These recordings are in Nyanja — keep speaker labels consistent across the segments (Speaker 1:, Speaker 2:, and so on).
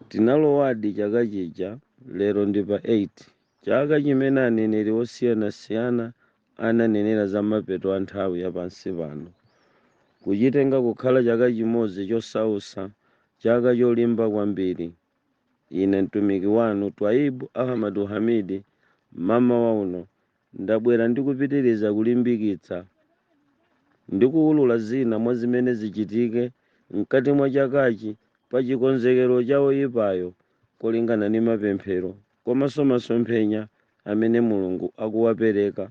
Speaker 1: Tinalowadi chaka chija, lero ndi pa 8, chaka chimene aneneri osiyanasiyana ananenera za mapeto a nthawi ya pansi pano. Kuchitenga kukhala chaka chimodzi chosausa, chaka cholimba kwambiri. Ine mtumiki wanu, Twaib Ahmadu Hamidi, mmamawa uno Ndabwera ndi kupitiriza kulimbikitsa ndi kuwulula zina mwa zimene zichitike mkati mwa chakachi pa chikonzekero cha oyipayo kolingana ndi mapemphero komanso masomphenya amene Mulungu akuwapereka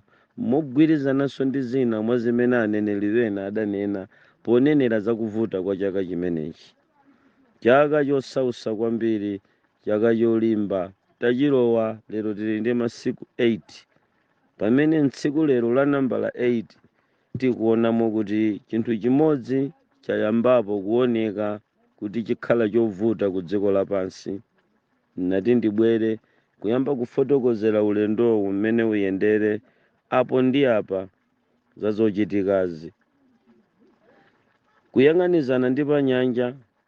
Speaker 1: mogwirizananso ndi zina mwa zimene aneneri ena adanena ponenera za kuvuta kwa chaka chimenechi, chaka chosausa kwambiri chaka cholimba tachilowa lero tili ndi masiku 8 pamene tsiku lero la nambala 8 tikuonamo kuti chinthu chimodzi chayambapo kuoneka kuti chikhala chovuta ku dziko lapansi nati ndibwere kuyamba kufotokozera ulendowu mmene uyendere apo ndi apa za zochitikazi kuyang'anizana ndi panyanja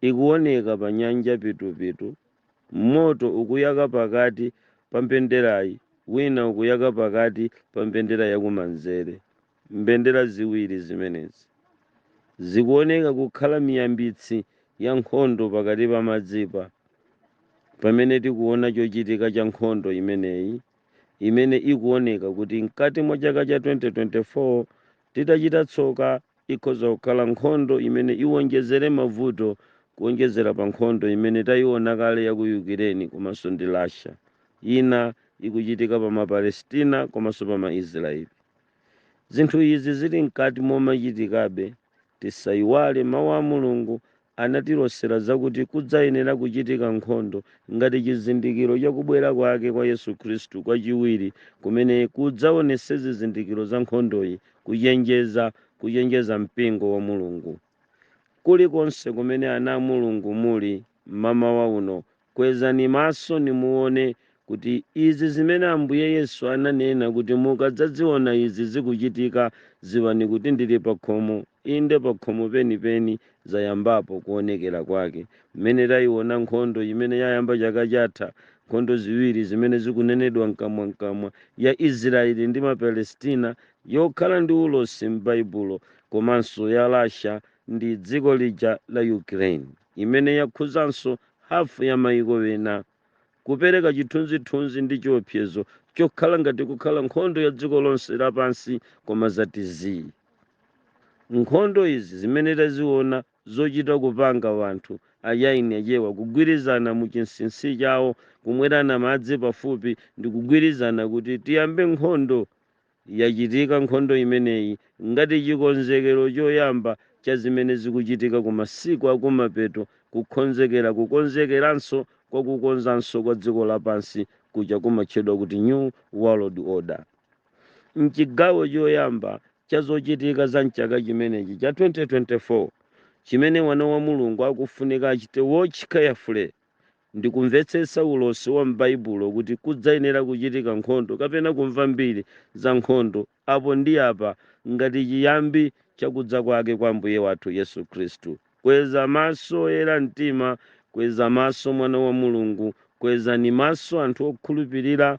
Speaker 1: ikuwoneka pa nyanja pitupitu, moto ukuyaka pakati pa mbenderayi, wina ukuyaka pakati pa mbendera ya kumanzere. Mbendera ziwiri zimenezi zikuwoneka kukhala miyambitsi ya nkhondo pakati pa madzipa, pamene tikuwona chochitika cha nkhondo imeneyi imene ikuwoneka kuti mkati mwa chaka cha 2024 titachita tsoka Ikhoza kukhala nkhondo imene iwonjezere mavuto kuwonjezera pa nkhondo imene taiona kale ya ku Ukraine komanso ndi Russia. Ina ikuchitika pa Mapalestina komanso pa Maisiraeli. Zinthu izi zili mkati momachitikabe, tisaiwale Mawu a Mulungu anatilosera zakuti kudzayenera kuchitika nkhondo ngati chizindikiro cha kubwera kwake kwa Yesu Khristu kwachiwiri, kumene kudzaonetse zizindikiro za nkhondoyi, kuchenjeza, kuchenjeza mpingo wa Mulungu. Kulikonse kumene ana a Mulungu muli mmamawa uno, kwezani maso nimuone kuti izi zimene Ambuye Yesu ananena kuti mukadzaziona izi zikuchitika, ziwani kuti ndili pakhomo. Inde, pakhomo penipeni zayambapo kuonekera kwake, mmene taiona nkhondo imene yayamba chaka chatha, nkhondo ziwiri zimene zikunenedwa mkamwamkamwa, ya Israeli ndi Mapalestina yokhala ndi ulosi m'Baibulo, komanso ya Russia ndi dziko lija la Ukraine, imene yakhuzanso hafu ya mayiko ena. kupereka chithunzithunzi ndi chiopsezo chokhala ngati kukhala nkhondo ya dziko lonse lapansi koma zati zii nkhondo izi zimene taziona zochita kupanga wanthu achaini achaiwa kugwirizana mu chinsinsi chawo kumwerana madzi pafupi ndi kugwirizana kuti tiyambe nkhondo Yachitika nkhondo imeneyi ngati chikonzekero choyamba cha zimene zikuchitika ku masiku akumapeto, kukonzekera kukonzekeranso kwa kukonzanso kwa dziko lapansi kuja kumatchedwa kuti New World Order. M'chigawo choyamba cha zochitika za m'chaka chimenechi cha 2024, chimene wana wa Mulungu akufunika achite watch carefully ndi kumvetsetsa ulosi wa m'Baibulo kuti kudzayenera kuchitika nkhondo kapena kumva mbiri za nkhondo apo ndi apa ngati chiyambi cha kudza kwake kwa Ambuye wathu Yesu Khristu. Kweza maso oyera mtima, kweza maso mwana wa Mulungu, kwezani maso anthu okhulupirira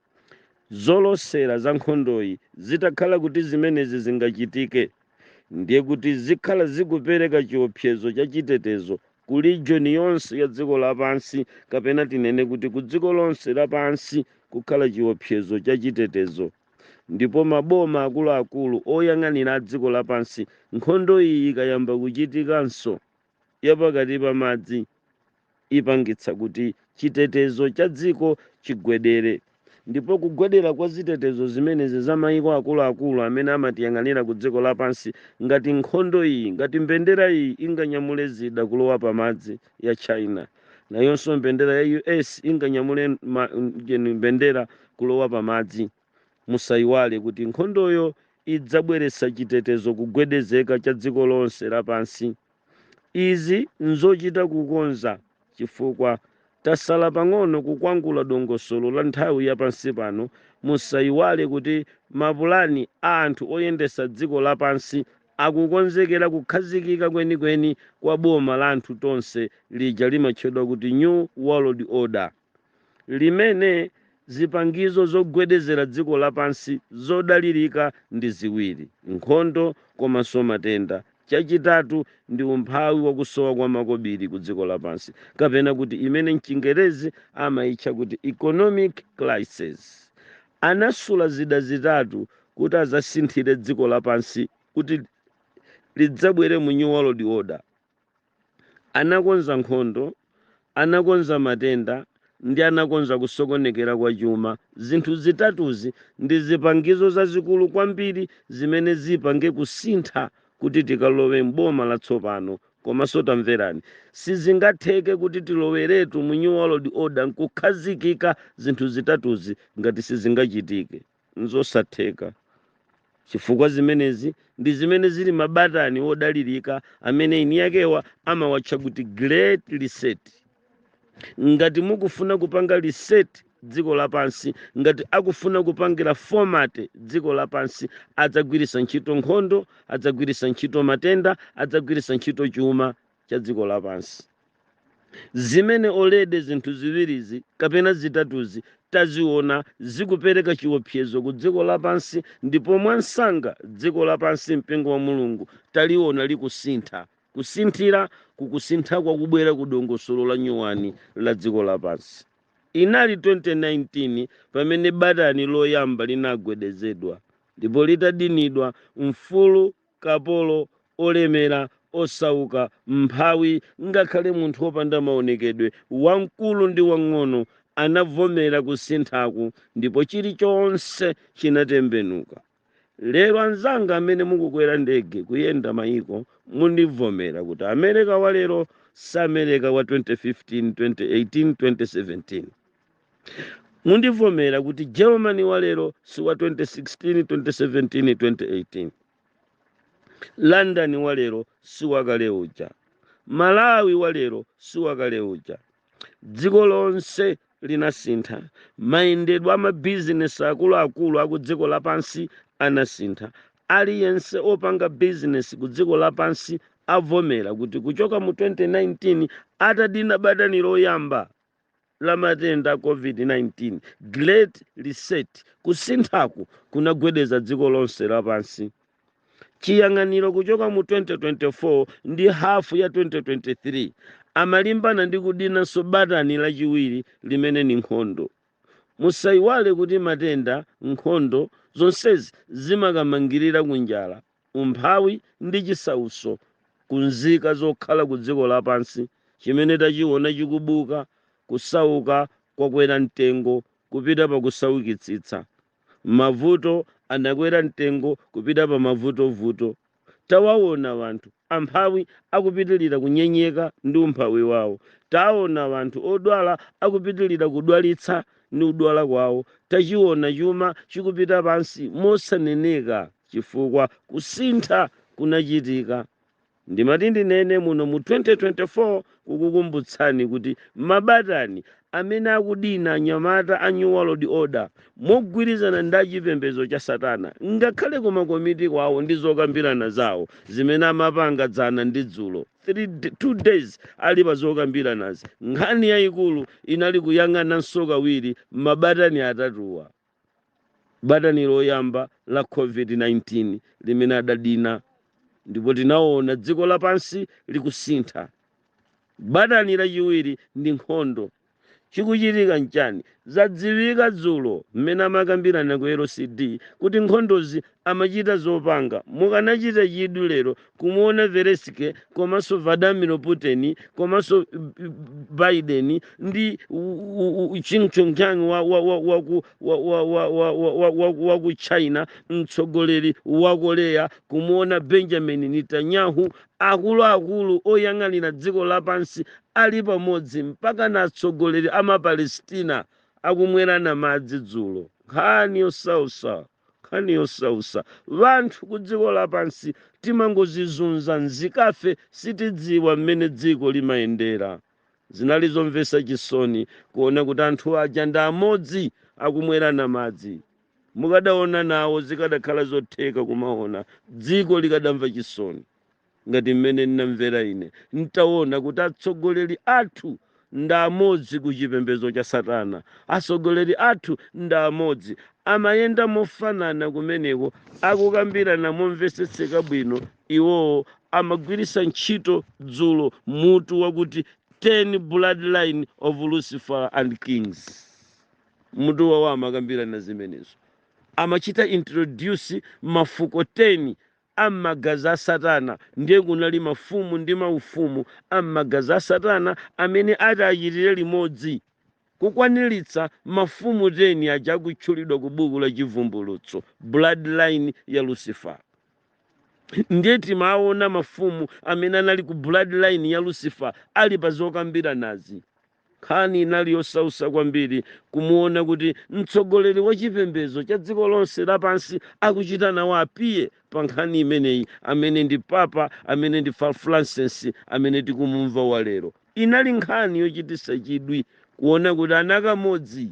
Speaker 1: Zolosera za nkhondoyi zitakhala kuti zimenezi zingachitike, ndiye kuti zikhala zikupereka chiopsezo cha chitetezo ku region yonse ya dziko lapansi kapena tinene kuti ku dziko lonse lapansi kukhala chiopsezo cha chitetezo ndipo maboma akuluakulu oyang'anira a dziko lapansi nkhondo iyi ikayamba kuchitikanso ya pakati pa madzi ipangitsa kuti chitetezo cha dziko chigwedere. Ndipo kugwedera kwa zitetezo zimenezi za mayiko akuluakulu amene amatiyang'anira ku dziko lapansi, ngati nkhondo iyi, ngati mbendera iyi inganyamule zida kulowa pa madzi, ya China, nayonso mbendera ya U.S. inganyamule ma, mbendera kulowa pa madzi. Musaiwale kuti nkhondoyo idzabweretsa chitetezo kugwedezeka cha dziko lonse lapansi. Izi nzochita kukonza chifukwa tasala pang'ono kukwangula dongosolo la nthawi ya pansi pano. Musaiwale kuti mapulani a anthu oyendetsa dziko lapansi akukonzekera kukhazikika kwenikweni kwa boma la anthu tonse lija limatchedwa kuti New World Order. limene zipangizo zogwedezera dziko lapansi zodalirika ndi ziwiri, nkhondo komanso matenda, chachitatu ndi umphawi wa kusowa kwa makobiri ku dziko lapansi, kapena kuti imene m'Chingerezi amaitcha kuti economic crisis, anasula zida zitatu kuti adzasinthire dziko lapansi kuti lidzabwere mu New World Order. Anakonza nkhondo, anakonza matenda, ndi anakonza kusokonekera kwa chuma. Zinthu zitatuzi ndi zipangizo zazikulu kwambiri zimene zipange kusintha kuti tikalowe m'boma latsopano. Komanso tamverani, sizingatheke kuti tiloweretu mu New World Order nkukhazikika zinthu zitatuzi ngati sizingachitike. N'zosatheka, chifukwa zimenezi ndi zimene zili mabatani odalirika amene eniyakewa amawatcha kuti Great Reset. Ngati mukufuna kupanga reset dziko lapansi, ngati akufuna kupangira format dziko lapansi, adzagwiritsa ntchito nkhondo, adzagwiritsa ntchito matenda, adzagwiritsa ntchito chuma, cha dziko lapansi zimene already zinthu ziwirizi kapena zitatuzi taziona zikupereka chiopsezo ku dziko lapansi ndipo mwamsanga dziko lapansi mpingo wa mulungu taliona likusintha kusinthira kukusintha kwakubwera ku dongosolo la nyuwani la dziko lapansi inali 2019 pamene batani loyamba linagwedezedwa ndipo litadinidwa mfulu kapolo, olemera, osauka, mphawi, ngakhale munthu wopanda maonekedwe, wamkulu ndi wamng'ono, anavomera kusinthaku ndipo chilichonse chinatembenuka. Lero anzanga amene mukukwera ndege kuyenda mayiko mundivomera kuti Amereka wa lero si Amereka wa 2015, 2018, 2017. mundivomera kuti germany wa lero si wa 2016 2017 2018 london wa lero si wakale uja malawi wa lero si wakale uja dziko lonse linasintha mayendedwe amabizinesi akuluakulu aku dziko lapansi anasintha aliyense opanga bizinesi ku dziko lapansi avomera kuti kuchoka mu 2019 atadina batani loyamba la matenda a COVID-19, Great Reset, kusinthaku kunagwedeza dziko lonse lapansi. Chiyang'aniro kuchoka mu 2024 ndi hafu ya 2023 amalimbana ndi kudinanso batani lachiwiri limene ni nkhondo. Musaiwale kuti matenda, nkhondo, zonsezi zimakamangirira ku njala. umphawi ndi chisautso ku nzika zokhala ku dziko lapansi chimene tachiona chikubuka, kusauka kwakwera mtengo kupita pa kusaukitsitsa, mavuto anakwera mtengo kupita pa mavutovuto. Tawaona anthu amphawi akupitilira kunyenyeka ndi umphawi wawo. Tawaona anthu odwala akupitilira kudwalitsa ndi kudwala kwawo. Tachiona chuma chikupita pansi mosaneneka. chifukwa kusintha kunachitika. Ndimati ndinene muno mu 2024 kukukumbutsani kuti mabatani amene akudina anyamata a New World Order mogwirizana ndi chipembedzo cha Satana ngakhale ku makomiti kwawo ndi zokambirana zawo zimene amapanga dzana ndi dzulo two days ali pa zokambiranazi nkhani yayikulu inali kuyang'ananso kawiri mabatani atatuwa batani loyamba la COVID-19 limene adadina ndipo tinaona dziko lapansi likusintha. Batani lachiwiri ndi nkhondo. Chikuchitika nchani? Zadziwika dzulo mmene amakambirana ku LCD kuti nkhondozi amachita zopanga mukanachita chidwi lero kumuona Zelensky komanso Vladimir Putin komanso Biden ndi Ching Chongqing wa, wa, wa, wa, ku, wa, wa, wa, wa, wa, wa, wa, wa ku China mtsogoleri wa Korea kumuona Benjamin Netanyahu akuluakulu oyang'anira dziko lapansi ali pamodzi mpaka na atsogoleri a maPalestina akumwerana madzi dzulo nkhani yosausa nkhani yosausa wanthu kudziko lapansi timangozizunza nzikafe sitidziwa mmene dziko limayendera zinali zomvesa chisoni kuona kuti anthu aja ndi amodzi akumwerana madzi mukadaona nawo zikadakhala zotheka kumaona dziko likadamva chisoni ngati mmene ndinamvera ine nditaona kuti atsogoleri athu ndi amodzi ku chipembedzo cha satana atsogoleri athu ndi amodzi amayenda mofanana kumeneko akukambirana momvetsetseka bwino iwowo amagwiritsa ntchito dzulo mutu wakuti 10 bloodline of lucifer and kings mutu wawo amakambirana zimenezo amachita introduce mafuko 10 a m'magazi a Satana, ndiye kunali mafumu ndi maufumu a m'magazi a Satana amene ati achitire limodzi kukwaniritsa mafumu 10 aja akutchulidwa ku buku la Chivumbulutso, bloodline ya Lucifer. Ndiye timaona mafumu amene anali ku bloodline ya Lucifer ali pa zokambiranazi Nkhani inali yosautsa kwambiri kumuona kuti mtsogoleri wa chipembedzo cha dziko lonse lapansi akuchita nawo appear pa nkhani imeneyi amene ndi Papa amene ndi Francis amene tikumumva wa lero. Inali nkhani yochititsa chidwi kuona kuti ana kamodzi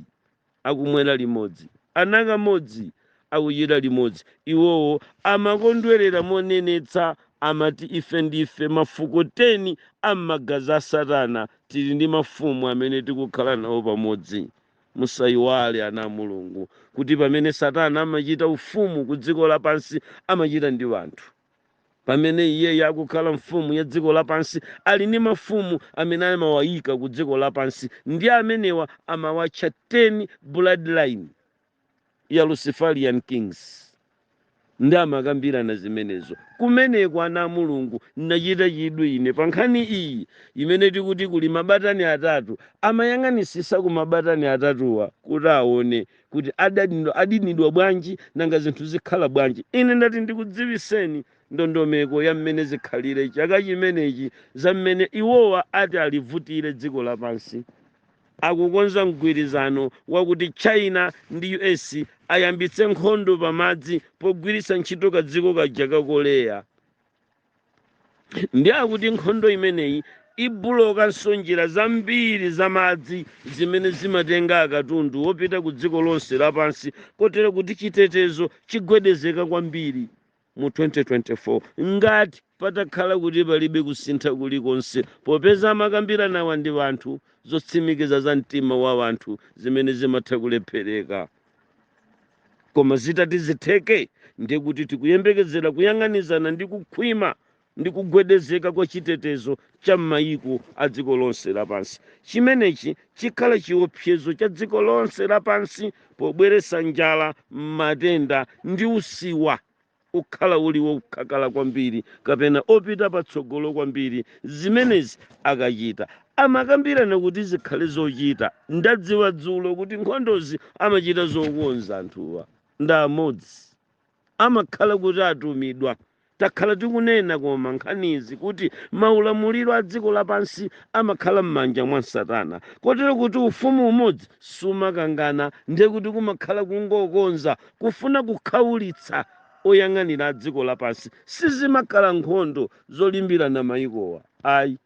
Speaker 1: akumwera limodzi, anakamodzi akuchita limodzi, iwowo amakondwerera monenetsa, amati, Ife ndife mafuko teni a magazi a Satana, tili ndi mafumu amene tikukhala nawo pamodzi. Musaiwale, ana a Mulungu, kuti pamene Satana amachita ufumu kudziko lapansi, amachita ndi wanthu. pamene iyeyo akukhala mfumu ya dziko lapansi ali ndi mafumu amene amawayika ku dziko lapansi ndi amenewa amawatcha 10 bloodline ya luciferian kings ndi amakambirana zimenezo kumeneko ana a mulungu nachita chidwi ine pa nkhani iyi imene tikuti kuli mabatani atatu amayang'anisisa ku mabatani atatuwa kuti aone kuti adinidwa bwanji nanga zinthu zikhala bwanji ine ndati ndikudziwiseni ndondomeko ya mmene zikhalire chaka chimenechi za mmene iwowa ati alivutire dziko lapansi akukonza mgwirizano wakuti china ndi us ayambitse nkhondo pamadzi pogwiritsa ntchito kadziko kaja ka korea ndi akuti nkhondo imeneyi ibulokanso njira zambiri za madzi zimene zimatenga akatundu wopita ku dziko lonse lapansi kotero kuti chitetezo chigwedezeka kwambiri mu 2024 ngati patakhala kuti palibe kusintha kulikonse popeza amakambiranawa ndi wanthu zotsimikiza za mtima wa wanthu zimene zimatha kulephereka koma zitati zitheke ndiye kuti tikuyembekezera kuyang'anizana ndi kukhwima ndi kugwedezeka kwa chitetezo cha m'mayiko a dziko lonse lapansi chimenechi chikhala chiopsezo cha dziko lonse lapansi pobweretsa njala matenda ndi usiwa ukhala uli wokhakhala kwambiri kapena opita patsogolo kwambiri zimenezi akachita amakambirana kuti zikhale zochita ndadziwa dzulo kuti nkhondozi amachita zokonza anthuwa ndi amodzi amakhala kuti atumidwa takhala tikunena koma nkhanizi kuti maulamuliro a dziko lapansi amakhala m'manja mwa satana kotero kuti ufumu umodzi sumakangana ndiye kuti kumakhala kungokonza kufuna kukhaulitsa oyang'anira a dziko lapansi sizimakhala nkhondo zolimbirana mayikowa ayi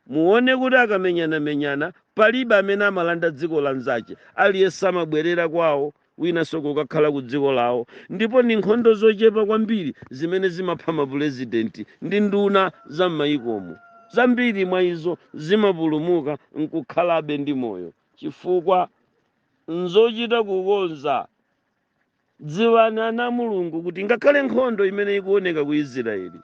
Speaker 1: muone kuti akamenyanamenyana palibe amene amalanda dziko la nzache aliyense amabwerera kwawo winanso kukakhala ku dziko lawo ndipo ni nkhondo zochepa kwambiri zimene zimapha mapurezidenti ndi nduna za m'mayikomo zambiri mwa izo zimapulumuka nkukhalabe ndi moyo chifukwa nzochita kukonza dziwani ana a mulungu kuti ngakhale nkhondo imene ikuoneka ku israeli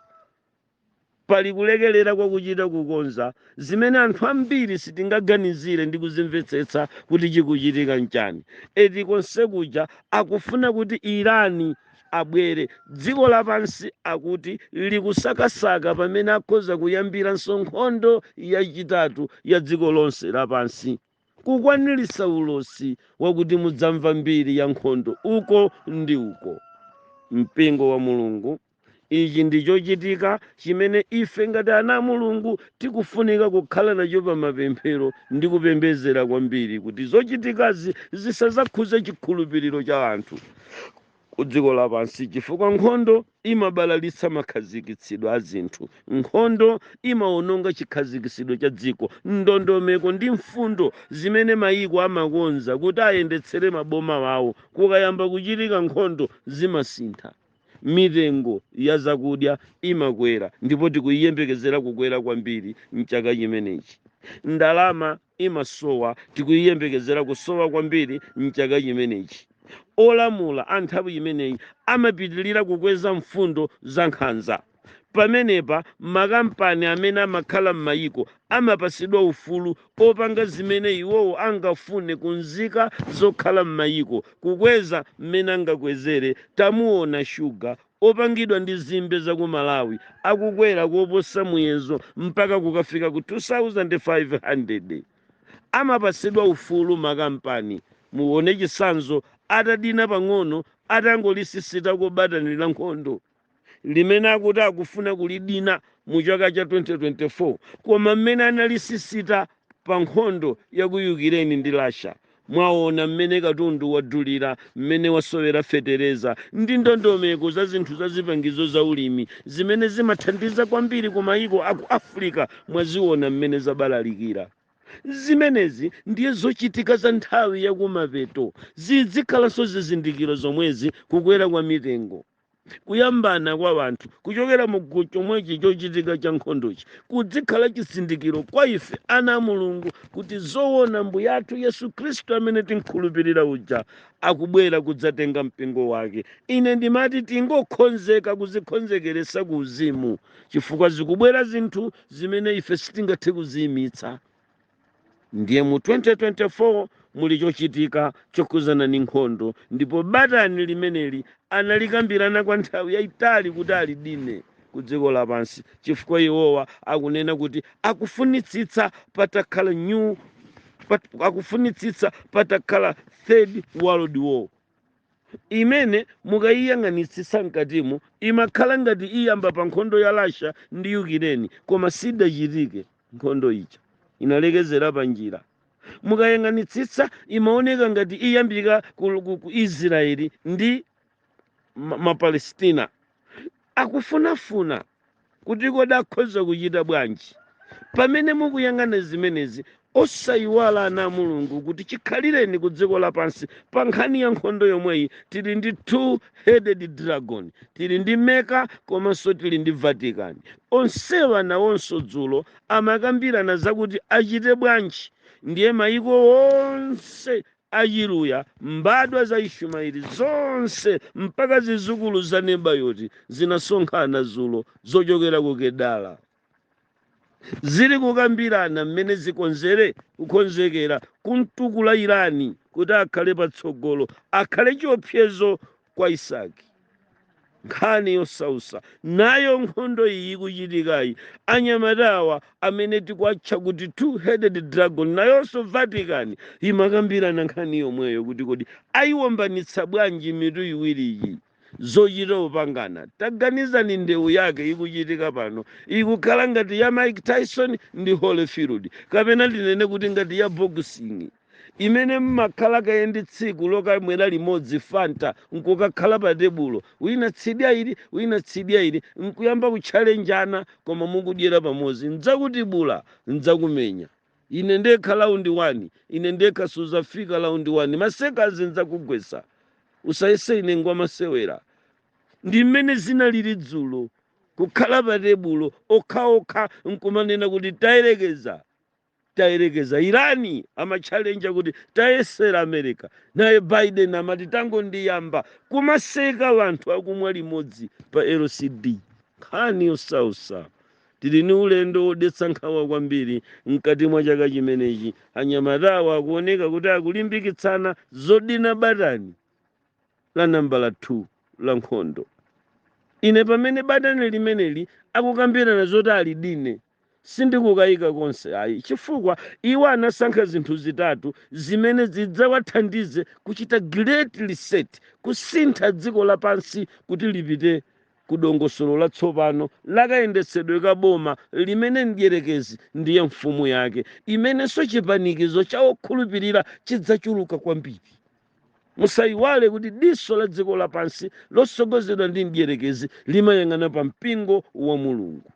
Speaker 1: pali kulekelera kwa kuchita kukonza zimene anthu ambiri sitingaganizire ndi kuzimvetsetsa kuti chikuchitika nchani eti konse kuja akufuna kuti irani abwere dziko lapansi akuti likusakasaka pamene akhoza kuyambiranso nkhondo yachitatu ya dziko lonse lapansi kukwaniritsa ulosi wakuti mudzamva mbiri ya nkhondo uko ndi uko. Mpingo wa Mulungu, ichi ndi chochitika chimene ife ngati ana a Mulungu tikufunika kukhala nacho pa mapemphero ndi kupembezera kwambiri kuti zochitikazi zisazakhuze chikhulupiriro cha anthu ku dziko lapansi chifukwa nkhondo imabalalitsa makhazikitsidwe a zinthu. Nkhondo imawononga chikhazikitsidwe cha dziko, ndondomeko ndi mfundo zimene mayiko amakonza kuti ayendetsere maboma awo. Kukayamba kuchitika nkhondo, zimasintha. Mitengo ya zakudya imakwera ndipo tikuiyembekezera kukwera kwambiri m'chaka chimenechi. Ndalama imasowa, tikuyiyembekezera kusowa kwambiri m'chaka chimenechi. Olamula a nthawi imeneyi amapitilira kukweza mfundo za nkhanza. Pamenepa, makampani amene amakhala m'mayiko amapatsidwa ufulu opanga zimene iwowo angafune ku nzika zokhala m'mayiko, kukweza m'mene angakwezere tamuona shuga opangidwa ndi zimbe za ku Malawi akukwera koposa muyezo mpaka kukafika ku 2500. Amapatsidwa ufulu makampani. Muone chitsanzo atadina pang'ono atangolisisitako batani la nkhondo limene akuti akufuna kulidina mu chaka cha 2024 koma mmene analisisita pa nkhondo ya ku Yukireni ndi Russia Mwaona mmene katundu wadulira, mmene wasowera fetereza, ndi ndondomeko za zinthu za zipangizo za ulimi zimene zimathandiza kwambiri ku mayiko a ku Africa? Mwaziona mmene zabalalikira? Zimenezi ndiye zochitika za nthawi ya kumapeto. Zizikhalanso zizindikiro zomwezi, kukwera kwa mitengo. kuyambana kwa anthu kuchokera mu chomwechi chochitika cha nkhondochi kudzikhala chizindikiro kwa ife ana a mulungu kuti zoona mbuye athu yesu khristu amene timkhulupirira uja akubwera kudzatenga mpingo wake ine ndimati tingokhonzeka kuzikhonzekeresa ku uzimu chifukwa zikubwera zinthu zimene ife sitingathe kuziyimitsa ndiye mu 2024 muli chochitika chokhuzana ndi nkhondo ndipo batani limeneli analikambirana kwa nthawi yayitali kuti alidine ku dziko lapansi chifukwa iwowa akunena kuti akufunitsitsa patakhala third world war imene mukaiyang'anitsitsa mkatimu imakhala ngati iyamba pa nkhondo ya russia ndi yukireni koma sidachitike nkhondo ija inalekezera pa njira mukayang'anitsitsa imaoneka ngati iyambika ku, ku, ku israeli ndi ma- mapalestina akufunafuna kuti kodi akhoza kuchita bwanji pamene mukuyang'ana zimenezi osayiwala ana a mulungu kuti chikhalireni ku dziko lapansi pa nkhani ya nkhondo yomweyi tili ndi two headed dragon tili ndi meka komanso tili ndi vatican onsewa nawonso dzulo amakambirana zakuti achite bwanji ndiye mayiko onse Achiluya, mbadwa za Ishumaeli zonse mpaka zidzukulu za Nebayoti zinasonkhana dzulo zochokera ku Kedara. Zili kukambirana mmene zikonzere kukonzekera kumtukula Irani kuti akhale patsogolo, akhale chiopsezo kwa isaki nkhani yosausa nayo nkhondo iyi ikuchitikayi anyamatawa amene tikuwatcha kuti two headed dragon nayonso vatican imakambirana nkhani yomweyo kuti kodi ayiwombanitsa bwanji mitu iwiriyi zochita upangana taganizani ndewu yake ikuchitika pano ikukhala ngati ya mike tyson ndi holyfield kapena ndinene kuti ngati ya boxing imene mmakhala kaye ndi tsiku lokamwera limodzi fanta nkukakhala pa tebulo wina tsidya ili wina tsidya ili nkuyamba kutchalenjana koma mukudyera pamozi ndzakutibula ndzakumenya ine ndekha laundi wani ine ndekha suzafika laundi wani masekazi ndzakugwesa usayese ine ngwamasewera ndi mmene zinalili dzulo kukhala pa tebulo okhaokha nkumanena kuti tayerekeza tayerekeza iran amatchalenja kuti tayesera america naye biden amati tangondiyamba kumaseka wanthu akumwa limodzi pa lcd nkhani yosausa tili ni ulendo wodetsa nkhawa kwambiri mkati mwa chaka chimenechi anyamatawa akuoneka kuti akulimbikitsana zodina batani la nambala 2 la nkhondo ine pamene batani limeneli akukambirana zoti alidine Sindikukayika konse ayi, chifukwa iwo anasankha zinthu zitatu zimene zidzawathandize kuchita Great Reset, kusintha dziko lapansi kuti lipite ku dongosolo latsopano la kayendetsedwe ka boma limene Mdyerekezi ndiye mfumu yake, imenenso chipanikizo cha okhulupirira chidzachuluka kwambiri. Musaiwale kuti diso la dziko lapansi lotsogozedwa ndi Mdyerekezi limayang'ana pa mpingo wa Mulungu.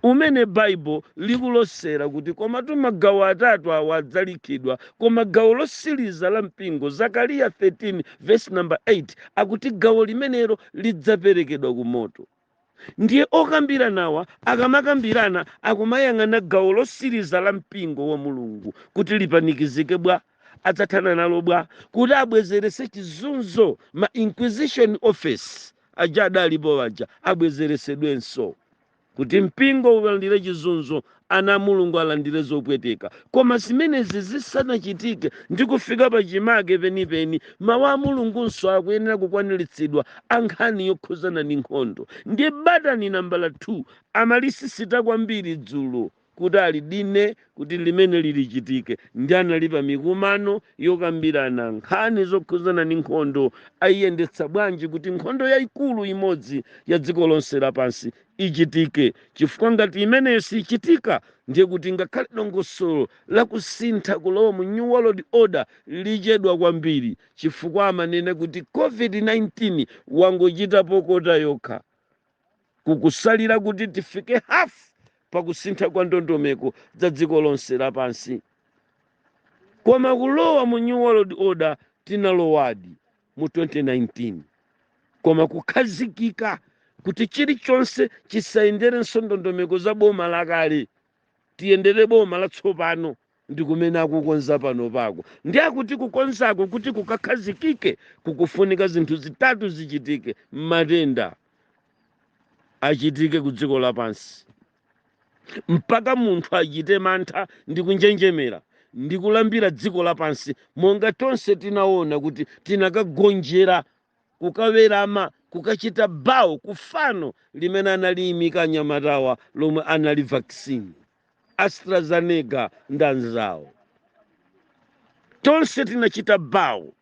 Speaker 1: umene Baibulo likulosela kuti komatu magawo atatu awa adzalikhidwa, koma gawo losiliza la mpingo, Zakaliya 13 vesi namba 8 akuti gawo limenelo lidzapelekedwa ku moto. Ndiye okambilanawa akamakambilana akumayang'ana gawo losiliza la mpingo wa Mulungu kuti lipanikizike bwa? adzathana nalo bwa? kuti abwezelese chizunzo ma inquisition office. aja adalipo aja abwezeretsedwenso kuti mpingo ulandire chizunzo ana a mulungu alandire zopweteka koma zimenezi zisanachitike ndi kufika pa chimake penipeni mawu a mulungunso akuyenera kukwaniritsidwa a nkhani yokhuzana ni nkhondo ndiye batani nambala 2 amalisisita kwambiri dzulo kuti alidine kuti limeneli lichitike ndi anali pa mikumano yokambirana nkhani zokhuzana ni nkhondo ayiyendetsa bwanji kuti nkhondo yayikulu imodzi ya dziko lonse lapansi ichitike chifukwa ngati imeneyo sichitika ndiye kuti ngakhale dongosolo lakusintha kulowa mu new world order lichedwa kwambiri chifukwa amanena kuti covid-19 wangochitapo kota yokha kukusalira kuti tifike hafu pakusintha kwa ndondomeko za dziko lonse lapansi koma kulowa mu new world order tinalowadi mu 2019 koma kukhazikika kuti chilichonse chisayenderenso ndondomeko za boma lakale tiyendere boma latsopano ndi kumene akukonza panopaku ndi akuti kukonzako kuti kukakhazikike kukufunika zinthu zitatu zichitike matenda achitike ku dziko lapansi mpaka munthu achite mantha ndi kunjenjemera ndi kulambira dziko lapansi monga tonse tinaona kuti tinakagonjera kukawerama, kukachita bow ku fano limene analiyimika anyamatawa lomwe anali vaccine, AstraZeneca ndi anzawo. Tonse tinachita bow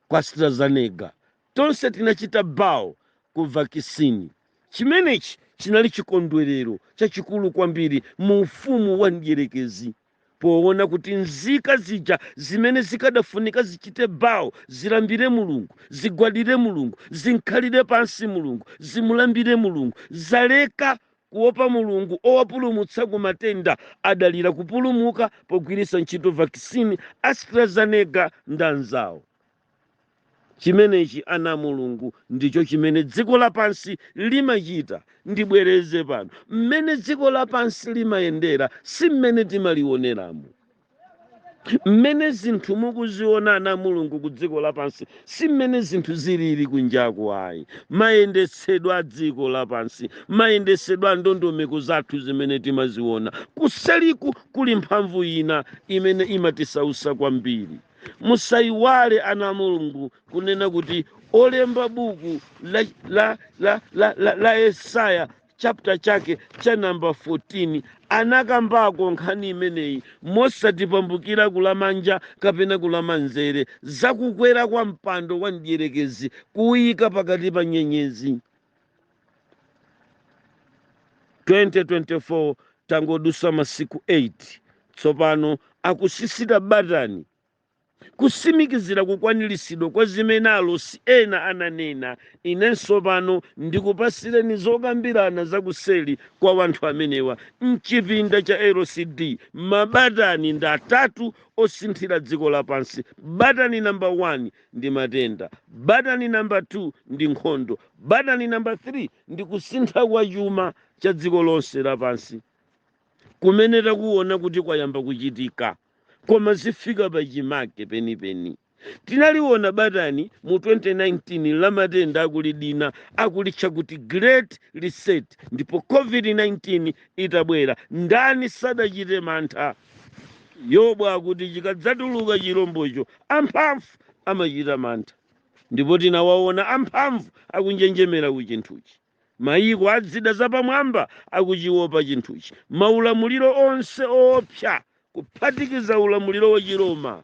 Speaker 1: kwa AstraZeneca, tonse tinachita bow ku vakisini. Chimenechi chinali chikondwerero chachikulu kwambiri mu ufumu wa mdyerekezi. Poona kuti nzika zija zimene zikadafunika zichite bow, zilambire Mulungu, zigwadire Mulungu, zimkhalire pansi Mulungu, zimulambire Mulungu, zaleka kuopa Mulungu owapulumutsa ku matenda, adalira kupulumuka pogwiritsa ntchito vaccine AstraZeneca ndanzawo. Chimenechi, ana a Mulungu, ndicho chimene dziko lapansi limachita. Ndibwereze pano, mmene dziko lapansi limayendera si mmene timaliwoneramo. Mmene zinthu mukuziona ana a Mulungu ku dziko lapansi si mmene zinthu zilili kunjaku ayi. Mayendetsedwe a dziko lapansi, mayendetsedwe a ndondomeko zathu zimene timaziona, kuseliku kuli mphamvu ina imene imatisausa kwambiri. musayiwale ana a mulungu kunena kuti olemba buku la yesaya chapter chake cha namba 14 anakambako nkhani imeneyi mosatipambukira kulamanja kapena kulamanzere zakukwera kwa mpando wa mdierekezi kuwuyika pakati pa nyenyezi 2024 tangodusa masiku 8 tsopano akusisita batani kusimikizira kukwaniritsidwa kwa zimene alosi ena ananena inenso pano ndikupasireni zokambirana zakuseli kwa wanthu amenewa mchipinda cha lcd mabatani ndi atatu osinthira dziko lapansi batani namba 1 ndi matenda. Batani namba 2 ndi nkhondo. Batani namba 3 ndi kusintha kwa chuma cha dziko lonse lapansi kumene takuona kuti kwayamba kuchitika koma zifika pa chimake penipeni. Tinaliona batani mu 2019 la matenda akulidina akulitcha kuti Great Reset ndipo COVID-19 itabwera ndani sadachite mantha yobu akuti chikadzatuluka chilombocho amphamvu amachita mantha ndipo tinawaona amphamvu akunjenjemera ku chinthuchi mayiko a zida zapamwamba akuchiopa chinthuchi maulamuliro onse oopsa kuphatikiza ulamuliro wa chiroma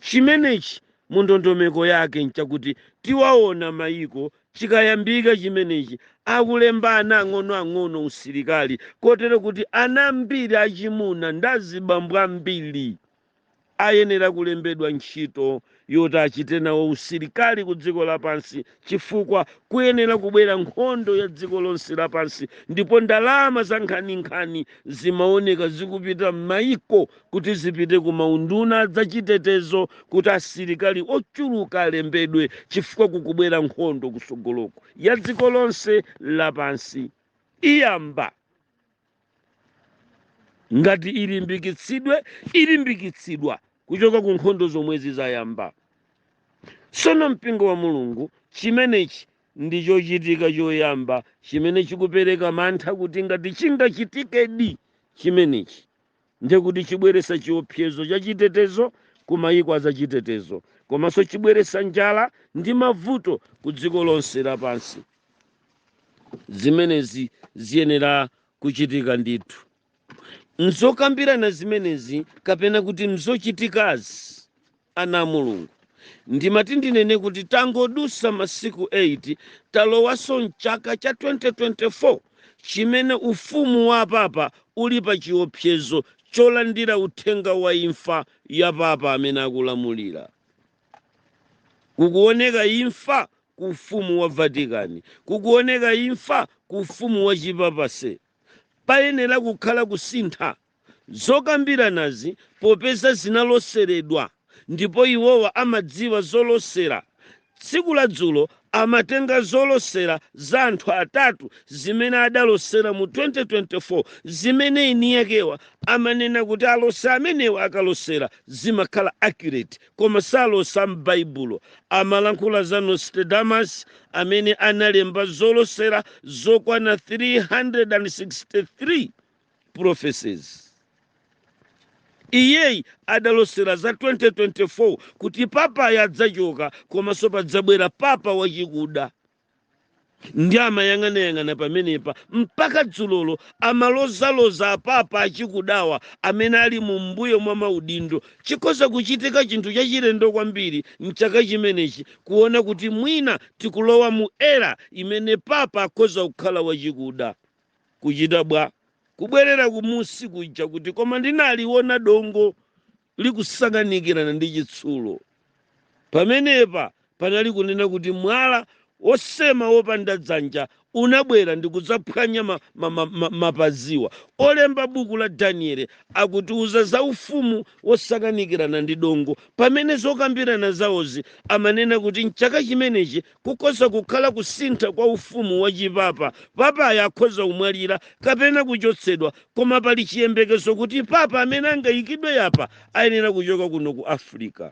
Speaker 1: Chimenechi mu ndondomeko yake nchakuti tiwaona mayiko chikayambika chimenechi akulemba ana ang'onoang'ono usilikali kotero kuti ana ambiri achimuna ndi azibambo ambiri ayenera kulembedwa ntchito yoti achite nawo usilikali ku dziko lapansi chifukwa kuyenera kubwera nkhondo ya dziko lonse lapansi ndipo ndalama zankhaninkhani zimaoneka zikupita m'mayiko kuti zipite ku maunduna za chitetezo kuti asilikali ochuluka alembedwe chifukwa kukubwera nkhondo kusogoloko ya dziko lonse lapansi iyamba ngati ilimbikitsidwe ilimbikitsidwa kuchoka ku nkhondo zomwezi zayamba sono mpingo wa mulungu chimenechi ndi chochitika choyamba chimene chikupereka mantha kuti ngati chingachitikedi chimenechi ndiye kuti chibweretsa chiopsezo cha chitetezo ku mayiko azachitetezo komanso chibweretsa njala ndi mavuto ku dziko lonse lapansi zimenezi ziyenera kuchitika ndithu m'zokambirana zimenezi kapena kuti m'zochitikazi Ana a Mulungu, ndimati ndinene kuti tangodutsa masiku 8 talowanso m'chaka cha 2024 chimene ufumu wa papa uli pa chiopsezo cholandira uthenga wa imfa ya papa amene akulamulira. Kukuoneka imfa ku ufumu wa Vatican. Kukuoneka imfa ku ufumu wa chipapase. Payenera kukhala kusintha. Zokambiranazi popeza zinaloseredwa ndipo iwowa amadziwa zolosera, tsiku ladzulo amatenga zolosera za anthu atatu zimene adalosera mu 2024 zimene eniakewa amanena kuti alosi amenewa akalosera zimakhala accurate koma salosa m'Baibulo. Amalankhula za Nostradamus amene analemba zolosera zokwana 363. prophecies iyeyi adalosera za 2024 kuti papayu adzachoka komanso padzabwera papa wachikuda ndi amayang'anayang'ana pamenepa mpaka dzulolo amalozaloza apapa achikudawa amene ali mu mbuyo mwa maudindo chikhoza kuchitika chinthu chachilendo kwambiri mchaka chimenechi kuona kuti mwina tikulowa mu era imene papa akhoza kukhala wachikuda kuchita bwa? Kubwerera kumusi kuja kuti, koma ndinaliwona dongo likusakanikirana ndi chitsulo. Pamenepa panali kunena kuti mwala wosema wopanda dzanja unabwera ndi kudzaphwanya mapaziwa. Olemba buku la Daniele akutiuza za ufumu wosakanikirana ndi dongo, pamene zokambirana zawozi amanena kuti m'chaka chimenechi Kukhoza kukhala kusintha kwa ufumu wa chipapa. Papayu akhoza kumwalira kapena kuchotsedwa, koma pali chiyembekezo kuti papa amene angaikidwe apa ayenera kuchoka kuno ku Africa.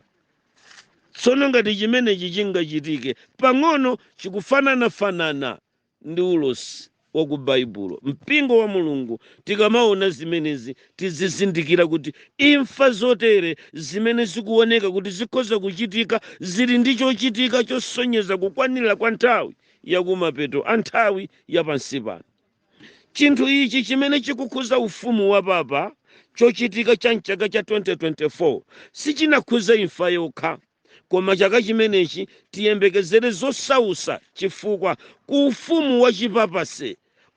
Speaker 1: Tsono ngati chimenechi chingachitike, pang'ono chikufananafanana ndi ulosi wa ku Baibulo. Mpingo wa Mulungu tikamaona zimenezi tizizindikira kuti imfa zotere zimene zikuoneka kuti zikhoza kuchitika zili ndi chochitika chosonyeza kukwanira kwa nthawi ya kumapeto a nthawi ya pansi pano. Chinthu ichi chimene chikukhuza ufumu wa Papa, chochitika cha m'chaka cha 2024, sichinakhuze imfa yokha. Koma chaka chimenechi tiyembekezere zosausa chifukwa ku ufumu wa chipapase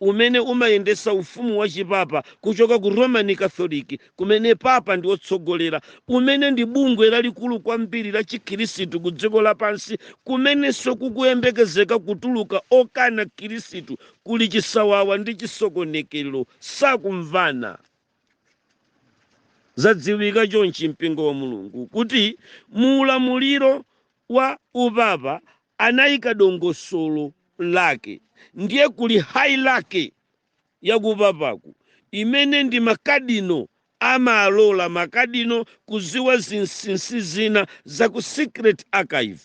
Speaker 1: umene umayendesa ufumu wa chipapa kuchoka ku Roman Catholic kumene papa ndi otsogolera umene ndi bungwe lalikulu kwambiri la chikhilisitu ku dziko lapansi kumenenso kukuyembekezeka kutuluka okana khilisitu kuli chisawawa ndi chisokonekelo sakumvana Zadziwika chonchi Mpingo wa Mulungu kuti mu ulamuliro wa upapa anaika dongosolo lake ndiye kuli hierarchy ya kupapaku imene ndi ma Cardinal amalola ma Cardinal kuziwa zinsinsi zina za ku secret archive.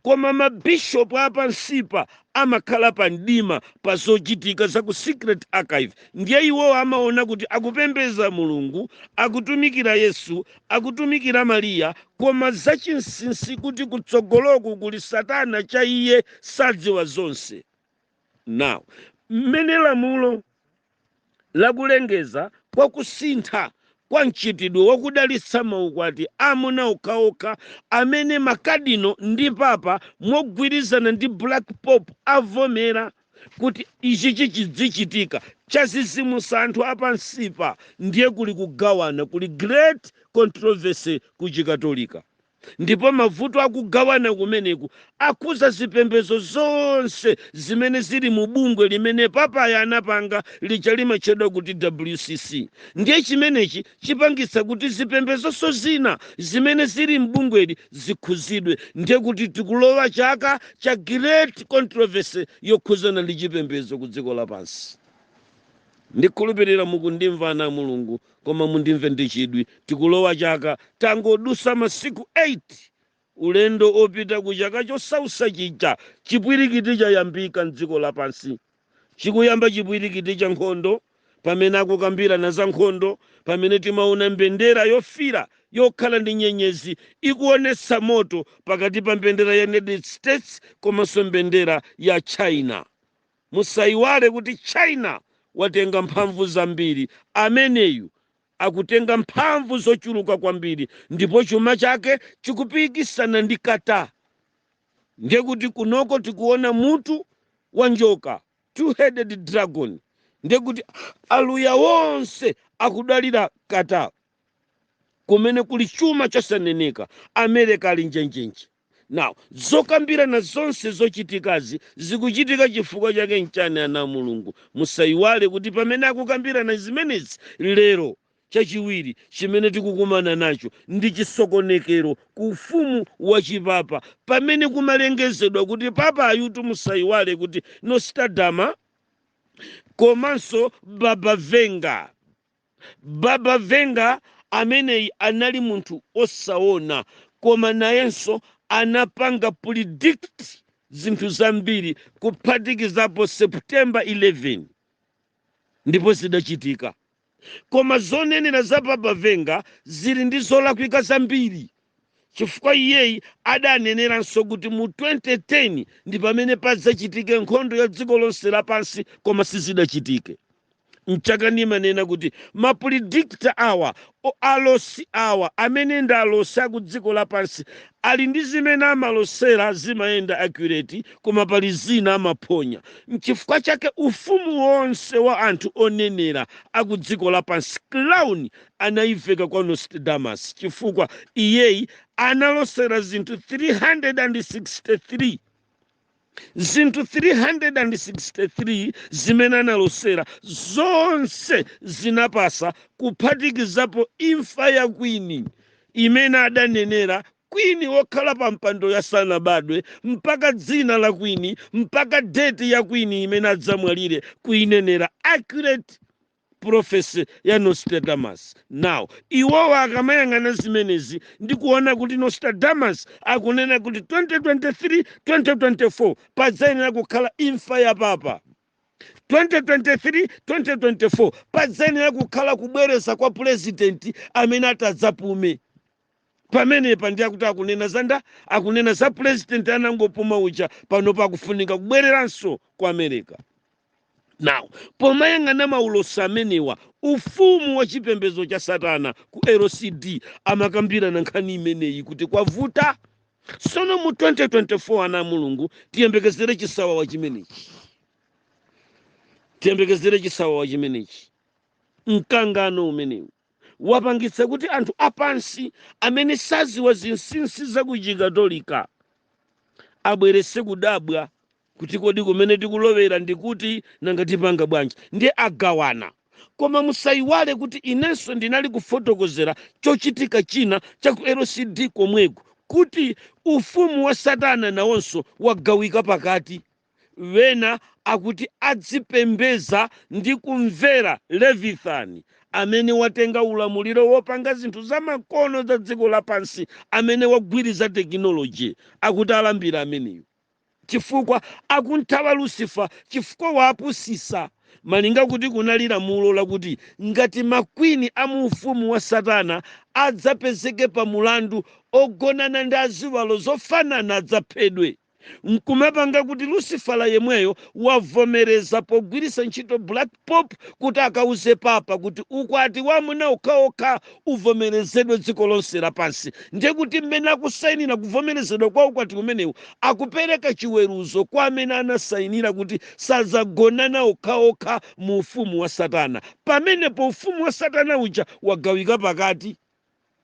Speaker 1: Koma mabishopu apansipa amakhala pa mdima pa zochitika za ku Secret Archive, ndiye iwowo amaona kuti akupembeza Mulungu, akutumikira Yesu, akutumikira Maria, koma zachinsinsi kuti kutsogoloku kuli Satana cha iye sadziwa zonse. Now, mmene lamulo la kulengeza kwa kusintha kwa mchitidwe wa kudalitsa maukwati amuna okhaokha amene makadino ndi papa mogwirizana ndi black pope avomera kuti ichi chichidzichitika chadzidzimutsa anthu apansipa ndiye kuli kugawana kuli great controversy ku chikatolika Ndipo mavuto a kugawana kumeneku akhuza zipembezo zonse zimene zili mu bungwe limene Papayu anapanga lija limatchedwa kuti WCC. Ndiye chimenechi chipangitsa kuti zipembezonso zina zimene zili m'bungweli zikhuzidwe. Ndiye kuti tikulowa chaka cha Great Controversy yokhuzana ndi chipembezo ku dziko lapansi. Ndikhulupirira mukundimva ana a Mulungu Koma mundimve ndi chidwi tikulowa chaka tangodutsa masiku 8 ulendo opita ku chaka chosausa chija chipwilikiti chayambika mdziko lapansi chikuyamba chipwilikiti cha nkhondo pamene akukambilana za nkhondo pamene timaona mbendera yofiira yokhala ndi nyenyezi ikuonetsa moto pakati pa mbendera ya United States komanso mbendera ya China Musaiwale kuti China watenga mphamvu zambiri, ameneyu akutenga mphamvu zochuluka kwambiri ndipo chuma chake chikupikisana ndi Qatar. Ndiye kuti kunoko tikuona mutu wa njoka, two headed dragon, ndiye kuti aluya onse akudalira Qatar kumene kuli chuma chosaneneka. Amereka ali njenjenje. Now, zokambirana zonse zochitikazi zikuchitika chifukwa chake nchani ana a Mulungu? Musaiwale kuti pamene akukambirana zimenezi lero, chachiwiri chimene tikukumana nacho ndi chisokonekero ku ufumu wa chipapa pamene kumalengezedwa kuti papa ayutu musaiwale kuti Nostradamus komanso Baba Vanga Baba Vanga ameneyi anali munthu osaona koma nayenso anapanga predict zinthu zambiri kuphatikizapo September 11 ndipo zidachitika. Koma zonenera za Baba Vanga zili ndi zolakwika zambiri. chifukwa iyeyi adaneneranso kuti mu 2010 ndi pamene padzachitike nkhondo ya dziko lonse lapansi koma sizidachitike nchake ndimanena kuti mapredictor awa alosi awa amene ndi alosi aku dziko lapansi ali ndi zimene amalosera zimayenda accurate koma pali zina amaphonya nchifukwa chake ufumu wonse wa anthu onenera aku dziko lapansi crown anaiveka kwa Nostradamus chifukwa iyeyi analosera zinthu 363 zinthu 363 zimene analosera zonse zinapasa kuphatikizapo imfa ya kwini imene adanenera kwini wokhala pa mpando asanabadwe mpaka dzina la kwini mpaka date ya kwini imene adzamwalire kuinenera accurate prophecy ya Nostradamus. Now, iwowa akamayang'ana zimenezi ndi kuona kuti Nostradamus akunena kuti 2023, 2024 padzayenera kukhala imfa ya papa. 2023, 2024 padzayenera kukhala kubwereza kwa pulezidenti amene atadzapume. pamenepa ndi akuti akunena za ndani akunena za president anangopuma uja pano akufunika kubwereranso ku america now pomayang'ana maulosi amenewa ufumu wa chipembedzo cha satana ku lcd amakambirana nkhani imeneyi kuti kwavuta sono mu 2024 ana a mulungu tiyembekezere chisawawa chimenechi tiyembekezere chisawawa chimenechi mkangano umenewu wapangitsa kuti anthu apansi amene saziwa zinsinsi za ku chikatolika abwerese kudabwa kuti kodi kumene tikulowera ndi kuti nanga tipanga bwanji ndiye agawana koma musayiwale kuti inenso ndinali kufotokozera chochitika china cha ku lcd komweko kuti ufumu wa satana nawonso wagawika pakati Wena akuti adzipembeza ndi kumvera Leviathan, amene watenga ulamuliro wopanga zinthu zamakono za dziko lapansi, amene wagwiriza tekinoloje, akuti alambire ameneyo, chifukwa akumthawa Lucifer chifukwa wapusisa, malinga kuti kunali lamulo lakuti ngati ma queen a mu ufumu wa Satana adzapezeke pa mulandu ogonana ndi aziwalo zofanana adzaphedwe. nkumapanga kuti Lucifer yemweyo wavomereza pogwiritsa ntchito Black Pope kuti akauze papa kuti ukwati wa amuna okhaokha uvomerezedwe dziko lonse lapansi ndiye kuti mmene akusainira kuvomerezedwa kwa ukwati umenewu akupereka chiweruzo kwa amene anasainira kuti sadzagonana okhaokha mu ufumu wa satana pamenepo ufumu wa satana uja wagawika pakati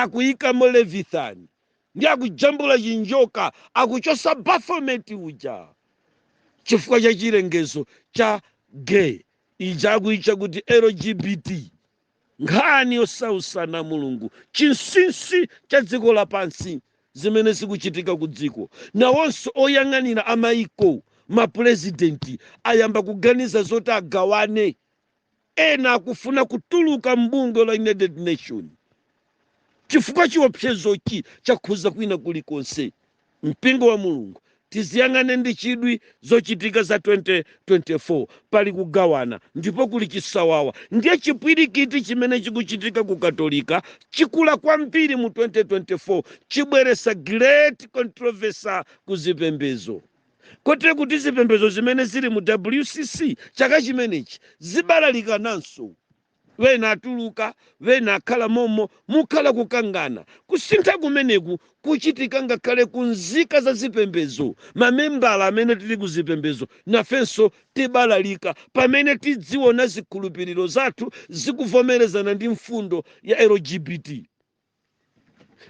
Speaker 1: akuyikamo Leviathan ndiye akujambula chinjoka akuchosa Baphomet uja chifukwa cha chilengezo cha gay ija akuitcha kuti LGBT nkhani yosausa anamulungu chinsinsi cha dziko lapansi zimene zikuchitika ku dziko nawonso oyang'anira amaiko mapurezidenti ayamba kuganiza zoti agawane Ena akufuna kutuluka m'bungwe la United Nations chifukwa chiopsezochi chakhuza kwina kulikonse mpingo wa Mulungu. Tiziyang'ane ndi chidwi zochitika za 2024. Pali kugawana ndipo kuli chisawawa ndiye chipwirikiti chimene chikuchitika ku Katolika chikula kwambiri mu 2024 chibweresa great controversy ku zipembezo. kotero kuti zipembezo zimene zili mu wcc chaka chimenechi zibalalikananso wena atuluka wena akhala momo mukhala kukangana kusintha kumeneku kuchitika ngakhale ku nzika za zipembezo mamembala amene tili ku zipembezo nafenso tibalalika pamene tidziona zikhulupiriro zathu zikuvomerezana ndi mfundo ya lgbt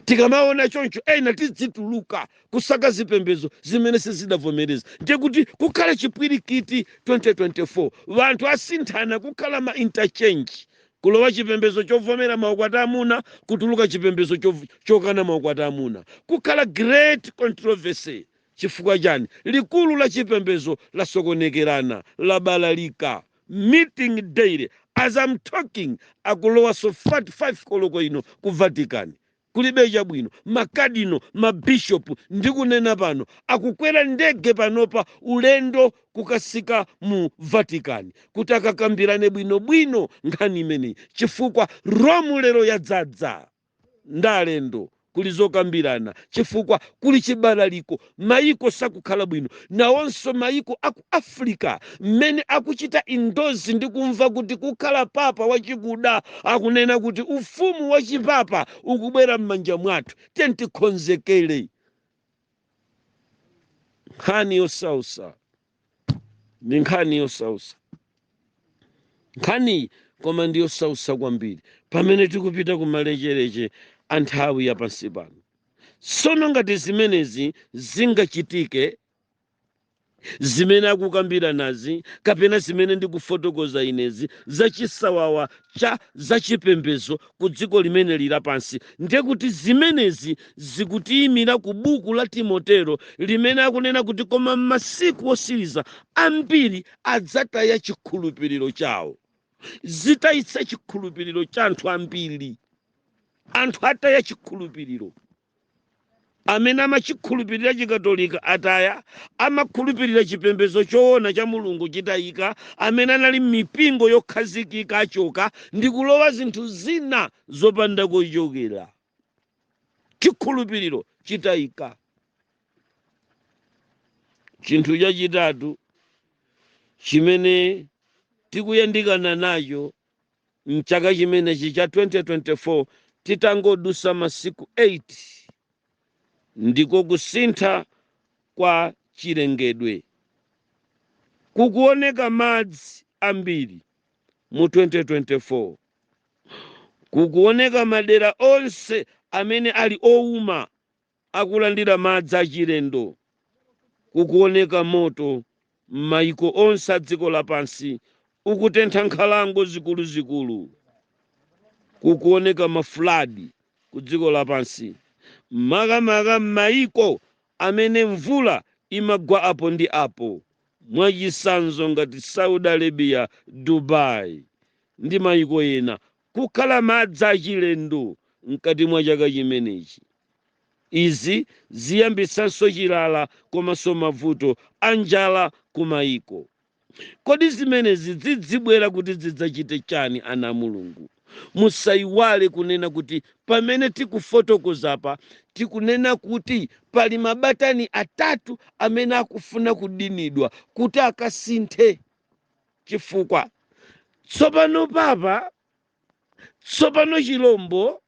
Speaker 1: tikamaona choncho ena tidzituluka kusaka zipembezo zimene sizidavomereza ndiye kuti kukhala chipwirikiti 2024 wanthu asinthana kukhala ma interchange kulowa chipembezo chovomera maukwati amuna kutuluka chipembezo chov- chokana maukwati amuna kukhala great controversy Chifukwa chani? Likulu la chipembezo lasokonekerana, labalalika. Meeting daily. As I'm talking akulowaso 5 koloko ino ku Vatican. Kulibe chabwino. Ma cardinal, ma bishop ndikunena pano akukwera ndege panopa ulendo kukatsika mu Vatican kuti akakambirane bwinobwino nkhani imeneyi chifukwa Rome lero yadzadza. ndi alendo kuli zokambirana chifukwa kuli chibalaliko maiko sakukhala bwino nawonso maiko aku africa mmene akuchita indozi ndi kumva kuti kukhala papa wachikuda akunena kuti ufumu wa chipapa ukubwera m'manja mwathu tiyeni tikonzekere nkhani yosausa ndi nkhani yosausa nkhaniyi koma ndi yosausa kwambiri pamene tikupita ku malechereche a nthawi ya pansi pano tsono ngati zimenezi zingachitike zimene akukambiranazi kapena zimene ndikufotokoza inezi za chisawawa cha zachipembedzo ku dziko limeneli lapansi. Ndiye kuti zimenezi zikutiyimira ku buku la Timoteo limene akunena kuti koma m'masiku otsiriza ambiri adzataya chikhulupiriro chawo. Zitayitsa chikhulupiriro cha anthu ambiri. Anthu ataya chikhulupiriro. amene amachikhulupirira chikatolika ataya amakhulupirira chipembedzo choona cha mulungu chitayika amene anali m'mipingo yokhazikika achoka ndi kulowa zinthu zina zopanda kochokera chikhulupiriro chitayika chinthu chachitatu chimene tikuyandikana nacho M'chaka chimenechi cha 2024, titangodutsa masiku 8 ndiko kusintha kwa chilengedwe, kukuoneka madzi ambiri mu 2024, kukuoneka madera onse amene ali ouma, akulandira madzi achilendo, kukuwoneka moto m'maiko onse a dziko lapansi ukutentha nkhalango zikuluzikulu, kukuwoneka ma flood ku dziko lapansi, makamaka m'maiko amene mvula imagwa apo ndi apo, mwachisanzo ngati Saudi Arabia, Dubai ndi maiko ena, kukhala madzi achilendo mkati mwa chaka chimenechi. Izi ziyambitsanso chilala komanso mavuto a njala ku maiko. Kodi zimenezi zidzibwera kuti zidzachite chani ana a Mulungu? Musaiwale kunena kuti pamene tikufotokozapa tikunena kuti pali mabatani atatu amene akufuna kudinidwa kuti akasinthe. chifukwa tsopano papa tsopano chilombo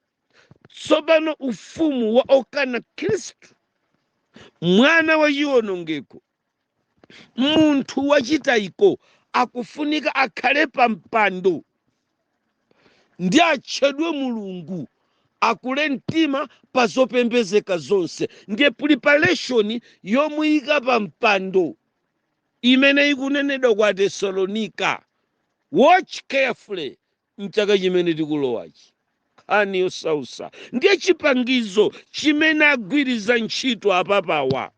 Speaker 1: tsopano ufumu wa okana khristu mwana wa chiwonongeko munthu wachitayiko akufunika akhale pa mpando ndi atchedwe mulungu akule mtima pa zopembezeka zonse ndiye preparation yomuyika pa mpando imene ikunenedwa ku Atesalonika, watch carefully, mchaka chimene tikulowachi. Nkhani yosausa ndiye chipangizo chimene agwiriza ntchito apapawa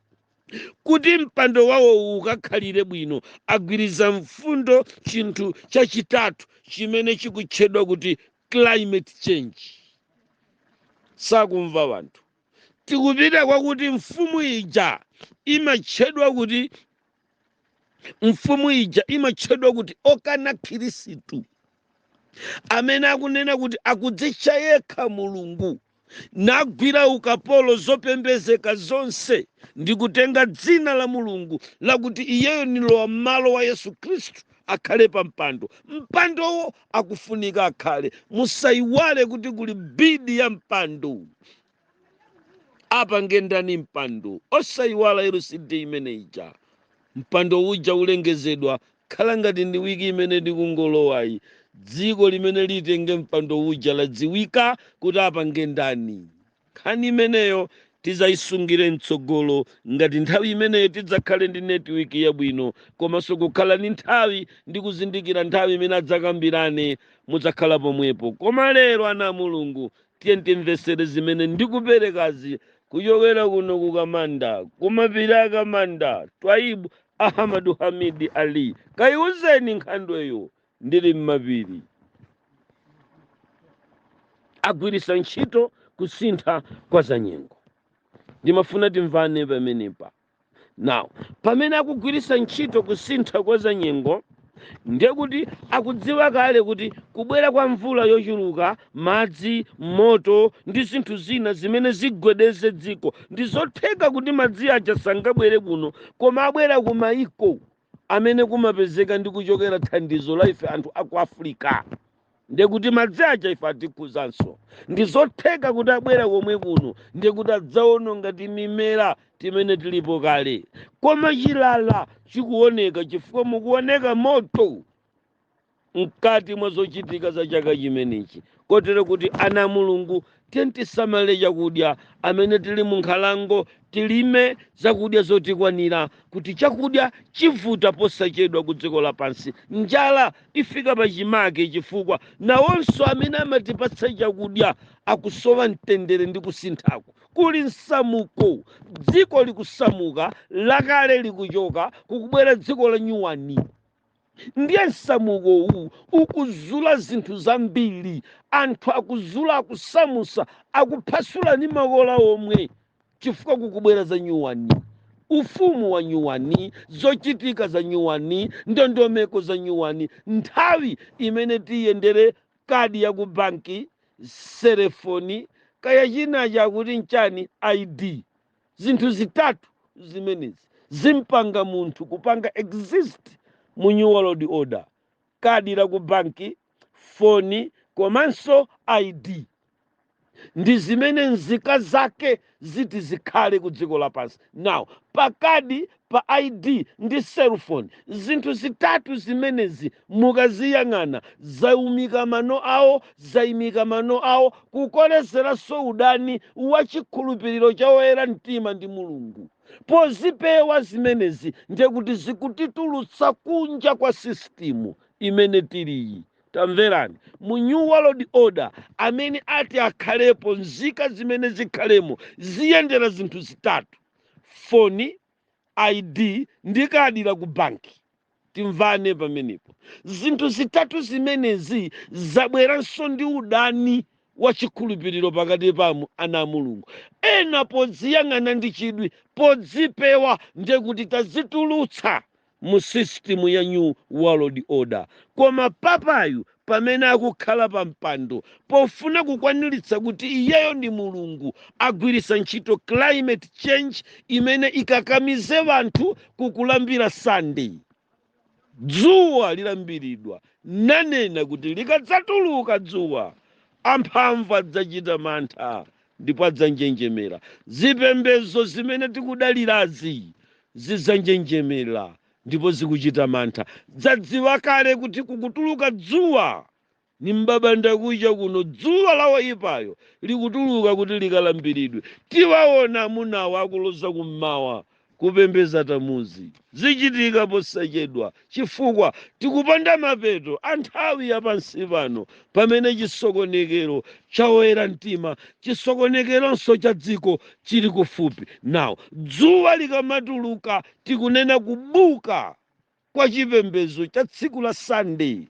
Speaker 1: kuti mpando wawowu ukakhalire bwino agwiriza mfundo chinthu chachitatu chimene chikutchedwa kuti climate change. Sakumva wanthu. tikupita kwakuti mfumu ija imatchedwa kuti mfumu ija imatchedwa kuti okana khristu amene akunena kuti akudzitcha yekha mulungu nagwira ukapolo zopembezeka zonse ndi kutenga dzina la mulungu lakuti iyeyo ni lowammalo wa yesu khristu akhale pa mpando mpandowo akufunika akhale musaiwale kuti kuli bidi ya mpando apange ndani mpando osaiwala lcd imene ija mpando uja ulengezedwa khala ngati ndi wiki imene tikungolowayi dziko limene litenge mpando uja ladziwika kuti apange ndani Nkhani imeneyo tizaisungire mtsogolo ngati nthawi imeneyo tidzakhale ndi network yabwino komanso kukhala ndi nthawi ndi kuzindikira nthawi imene adzakambirane mudzakhala pomwepo koma lero ana a Mulungu tiyeni timvetsere zimene ndikuperekazi kuchokera kuno ku Kamanda kumapiri a Kamanda Twaibu Ahamadu Hamidi Ali kaiuzeni nkhandweyo ndili m'mapiri. agwiritsa ntchito kusintha kwa zanyengo ndimafuna timvane pamenepa now pamene akugwiritsa ntchito kusintha kwa zanyengo ndiye kuti akudziwa kale kuti kubwera kwa mvula yochuluka madzi moto ndi zinthu zina zimene zigwedeze dziko ndi zotheka kuti madzi aja sangabwere kuno koma abwera ku mayiko amene kumapezeka ndi kuchokera thandizo la ife anthu aku africa ndiye kuti madzi aja ife atikhuzanso ndi zotheka kuti abwera komwe kuno ndiye kuti adzaononga timimera timene tilipo kale koma chilala chikuoneka chifukwa mukuoneka moto mkati mwa zochitika za chaka chimenechi kotero kuti ana a mulungu tisamale chakudya amene tili mu nkhalango tilime zakudya zotikwanira kuti chakudya chivuta posachedwa ku dziko lapansi njala ifika pachimake chifukwa nawonso amene amatipatsa chakudya akusowa mtendere ndi kusinthaku kuli msamuko dziko likusamuka lakale likuchoka kukubwera dziko la nyuwani ndiye msamuko uwu ukuzula zinthu zambiri anthu akuzula akusamusa akuphasula ndi makola omwe chifukwa kukubwera za nyuwani ufumu wa nyuwani zochitika za nyuwani ndondomeko za nyuwani nthawi imene tiyendere kadi ya ku banki selefoni kaya chinacha akuti nchani id Zinthu zitatu zimenezi zimpanga munthu kupanga exist mu new world order, kadi la ku banki, foni komanso ID. Ndi zimene nzika zake ziti zikhale ku dziko lapansi. Now, pa kadi pa ID ndi cellphone. Zinthu zitatu zimenezi mukaziyang'ana zaimika mano awo, zaimika mano awo, kukolezeranso udani wa chikhulupiriro cha oyera mtima ndi Mulungu. Pozipewa zimenezi ndiye kuti zikutitulutsa kunja kwa sisitimu imene tiliyi. Tamverani, mu New World Order amene ati akhalepo, nzika zimene zikhalemo ziyendera zinthu zitatu. foni, ID ndi kadi la ku banki. Timvane pamenepo. Zinthu zitatu zimenezi zabweranso ndi udani wa chikhulupiriro pakati pa amu- ana a Mulungu. Ena podziyang'ana ndi chidwi, podzipewa ndiye kuti tadzitulutsa mu system ya new world order koma papayu pamene akukhala pa mpando pofuna kukwaniritsa kuti iyeyo ndi mulungu agwiritsa ntchito climate change imene ikakamize wanthu kukulambira sunday dzuwa lilambiridwa nanena kuti likadzatuluka dzuwa amphamvu adzachita mantha ndipo adzanjenjemera. Zipembedzo zimene tikudalirazi zidzanjenjemera ndipo zikuchita mantha. Zadziwa kale kuti kukutuluka dzuwa ni m'babandakucha kuno. Dzuwa la woipayo likutuluka kuti likalambiridwe. Tiwaona amunawo akuloza kum'mawa Kupembeza Tamuzi zichitika posachedwa chifukwa tikupanda mapeto a nthawi ya pansi pano pamene chisokonekero cha oyera mtima, chisokonekeronso cha dziko chili kufupi. Now dzuwa likamatuluka tikunena kubuka kwa chipembedzo cha tsiku la Sande,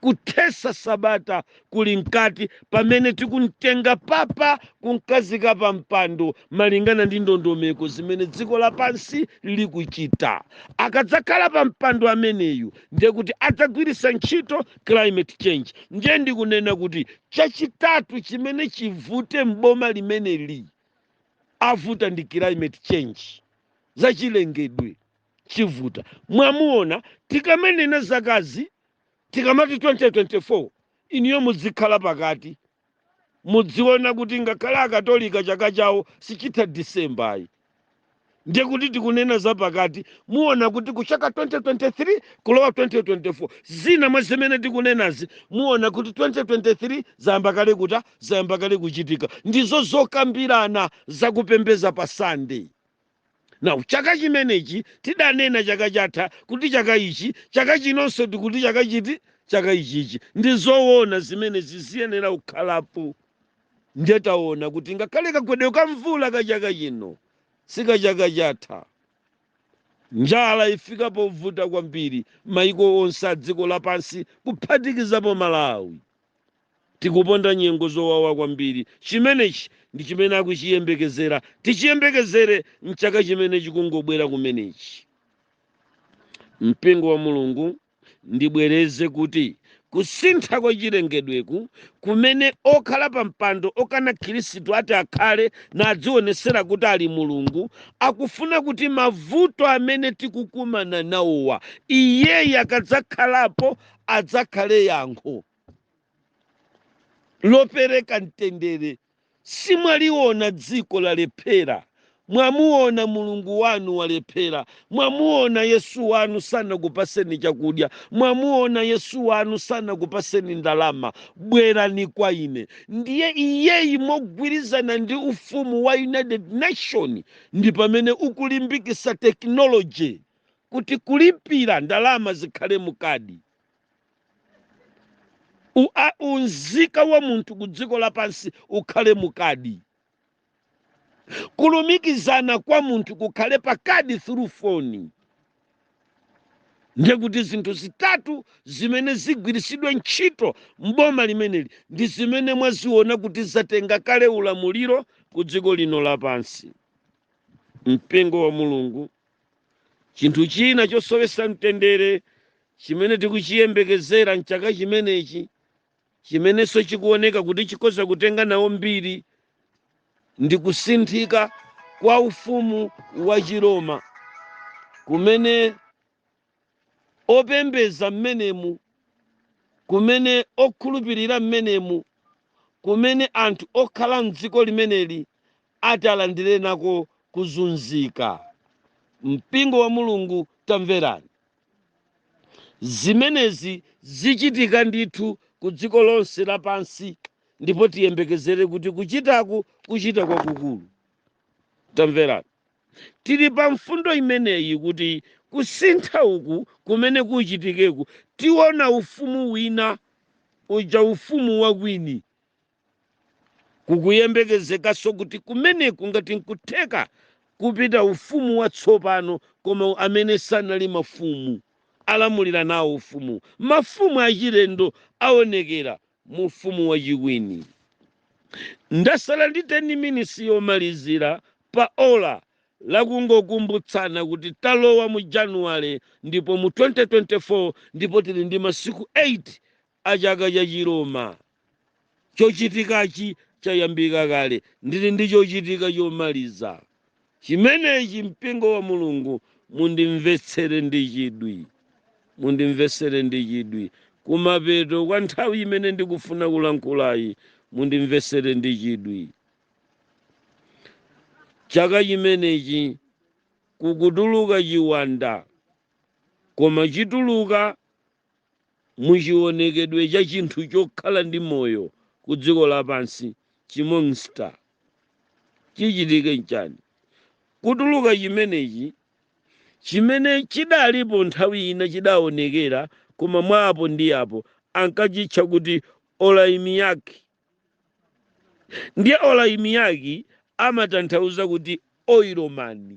Speaker 1: kuthesa sabata kuli mkati pamene tikumtenga papa kumkhazika pa mpando malingana ndi ndondomeko zimene dziko lapansi likuchita. Akadzakhala pa mpando ameneyu ndiye kuti adzagwiritsa ntchito climate change. Ndiye ndikunena kuti chachitatu chimene chivute m'boma limeneli avuta ndi climate change zachilengedwe. chivuta mwamuona tikamanena zakazi tikamati 2024 inuyo mudzikhala pakati mudziona kuti ngakhale akatolika chaka chawo sichitha disemba ayi ndiye kuti tikunena za pakati muona kuti kuchaka 2023 kulowa 2024 zina mwa zimene tikunenazi muona kuti 2023 zayamba kale kuta zayamba kale kuchitika ndizo zokambirana zakupembeza pa sunday Now chaka chimenechi tidanena chaka chatha kuti chaka ichi, chaka chinonso tikuti chaka chiti, chaka ichichi. Ndi zoona zimene ziziyenera kukhalapo. Ndiye taona kuti ngakhale kagwedwe ka mvula ka chaka chino si ka chaka chatha. Njala ifika povuta kwambiri maiko onse a dziko lapansi kuphatikizapo Malawi. Tikuponda nyengo zowawa kwambiri. Chimenechi ndi chimene akuchiyembekezera. Tichiyembekezere m'chaka chimene chikungobwera kumenechi. Mpingo wa Mulungu, ndibwereze kuti kusintha kwa chilengedweku kumene okhala pampando okana Khristu ati akhale nadzionetsera kuti ali Mulungu, akufuna kuti mavuto amene tikukumana nawowa iyeyi akadzakhalapo adzakhale yankho. lopereka mtendere simwaliona dziko lalephera mwamuona mulungu wanu walephera mwamuona yesu wanu sanakupaseni chakudya mwamuona yesu wanu sanakupaseni ndalama bwerani kwa ine ndiye iyeyi mogwirizana ndi ufumu wa united nation ndi pamene ukulimbikisa tekinoloji kuti kulipira ndalama zikhale mukadi Unzika wa munthu ku dziko lapansi ukhale mukadi kulumikizana kwa munthu kukhale pakadi through foni ndiye kuti zinthu zitatu zimene zigwiritsidwe ntchito m'boma limeneli ndi zimene mwaziona kuti zatenga kale ulamuliro ku dziko lino lapansi mpingo wa mulungu chinthu china chosowesa mtendere chimene tikuchiyembekezera mchaka chimenechi chimenenso chikuoneka kuti chikhoza kutenga nawo mbiri ndi kusinthika kwa ufumu wa chiroma kumene opembeza mmenemu, kumene okhulupirira mmenemu, kumene anthu okhala mdziko limeneli atalandire nako kuzunzika. Mpingo wa Mulungu, tamverani! Zimenezi zichitika ndithu ku dziko lonse lapansi, ndipo tiyembekezere kuti kuchitaku kuchita kwakukulu. Tamverani! tili pa mfundo imeneyi kuti kusintha uku kumene kuchitikeku, tiona ufumu wina, uja ufumu wa kwini. Kukuyembekezekanso kuti kumeneku ngati n'kutheka kupita ufumu watsopano koma amene sanali mafumu alamulira nawo ufumu. Mafumu achilendo aonekera mu ufumu wachikwini. Ndasala ndi 10 minisi yomalizira pa ola la kungokumbutsana kuti talowa mu Januwale ndipo mu 2024 ndipo tili ndi masiku 8 a chaka cha chiroma. Chochitikachi chayambika kale. Ndili ndi chochitika chomaliza. chimenechi, Mpingo wa Mulungu, mundimvetsere ndi chidwi, mundimvetsere ndi chidwi, kumapeto kwa nthawi imene ndikufuna kulankhulayi, mundimvetsere ndi chidwi. Chaka chimenechi kukutuluka chiwanda, koma chituluka mu chiwonekedwe cha chinthu chokhala ndi moyo ku dziko lapansi, chimonster. Chichitike nchani? Kutuluka chimenechi, chimene chidalipo nthawi ina chidawonekera, koma mwa apo ndi apo ankachitcha kuti Olaimiaki. Ndiye Olaimiaki amatanthauza kuti oilomani.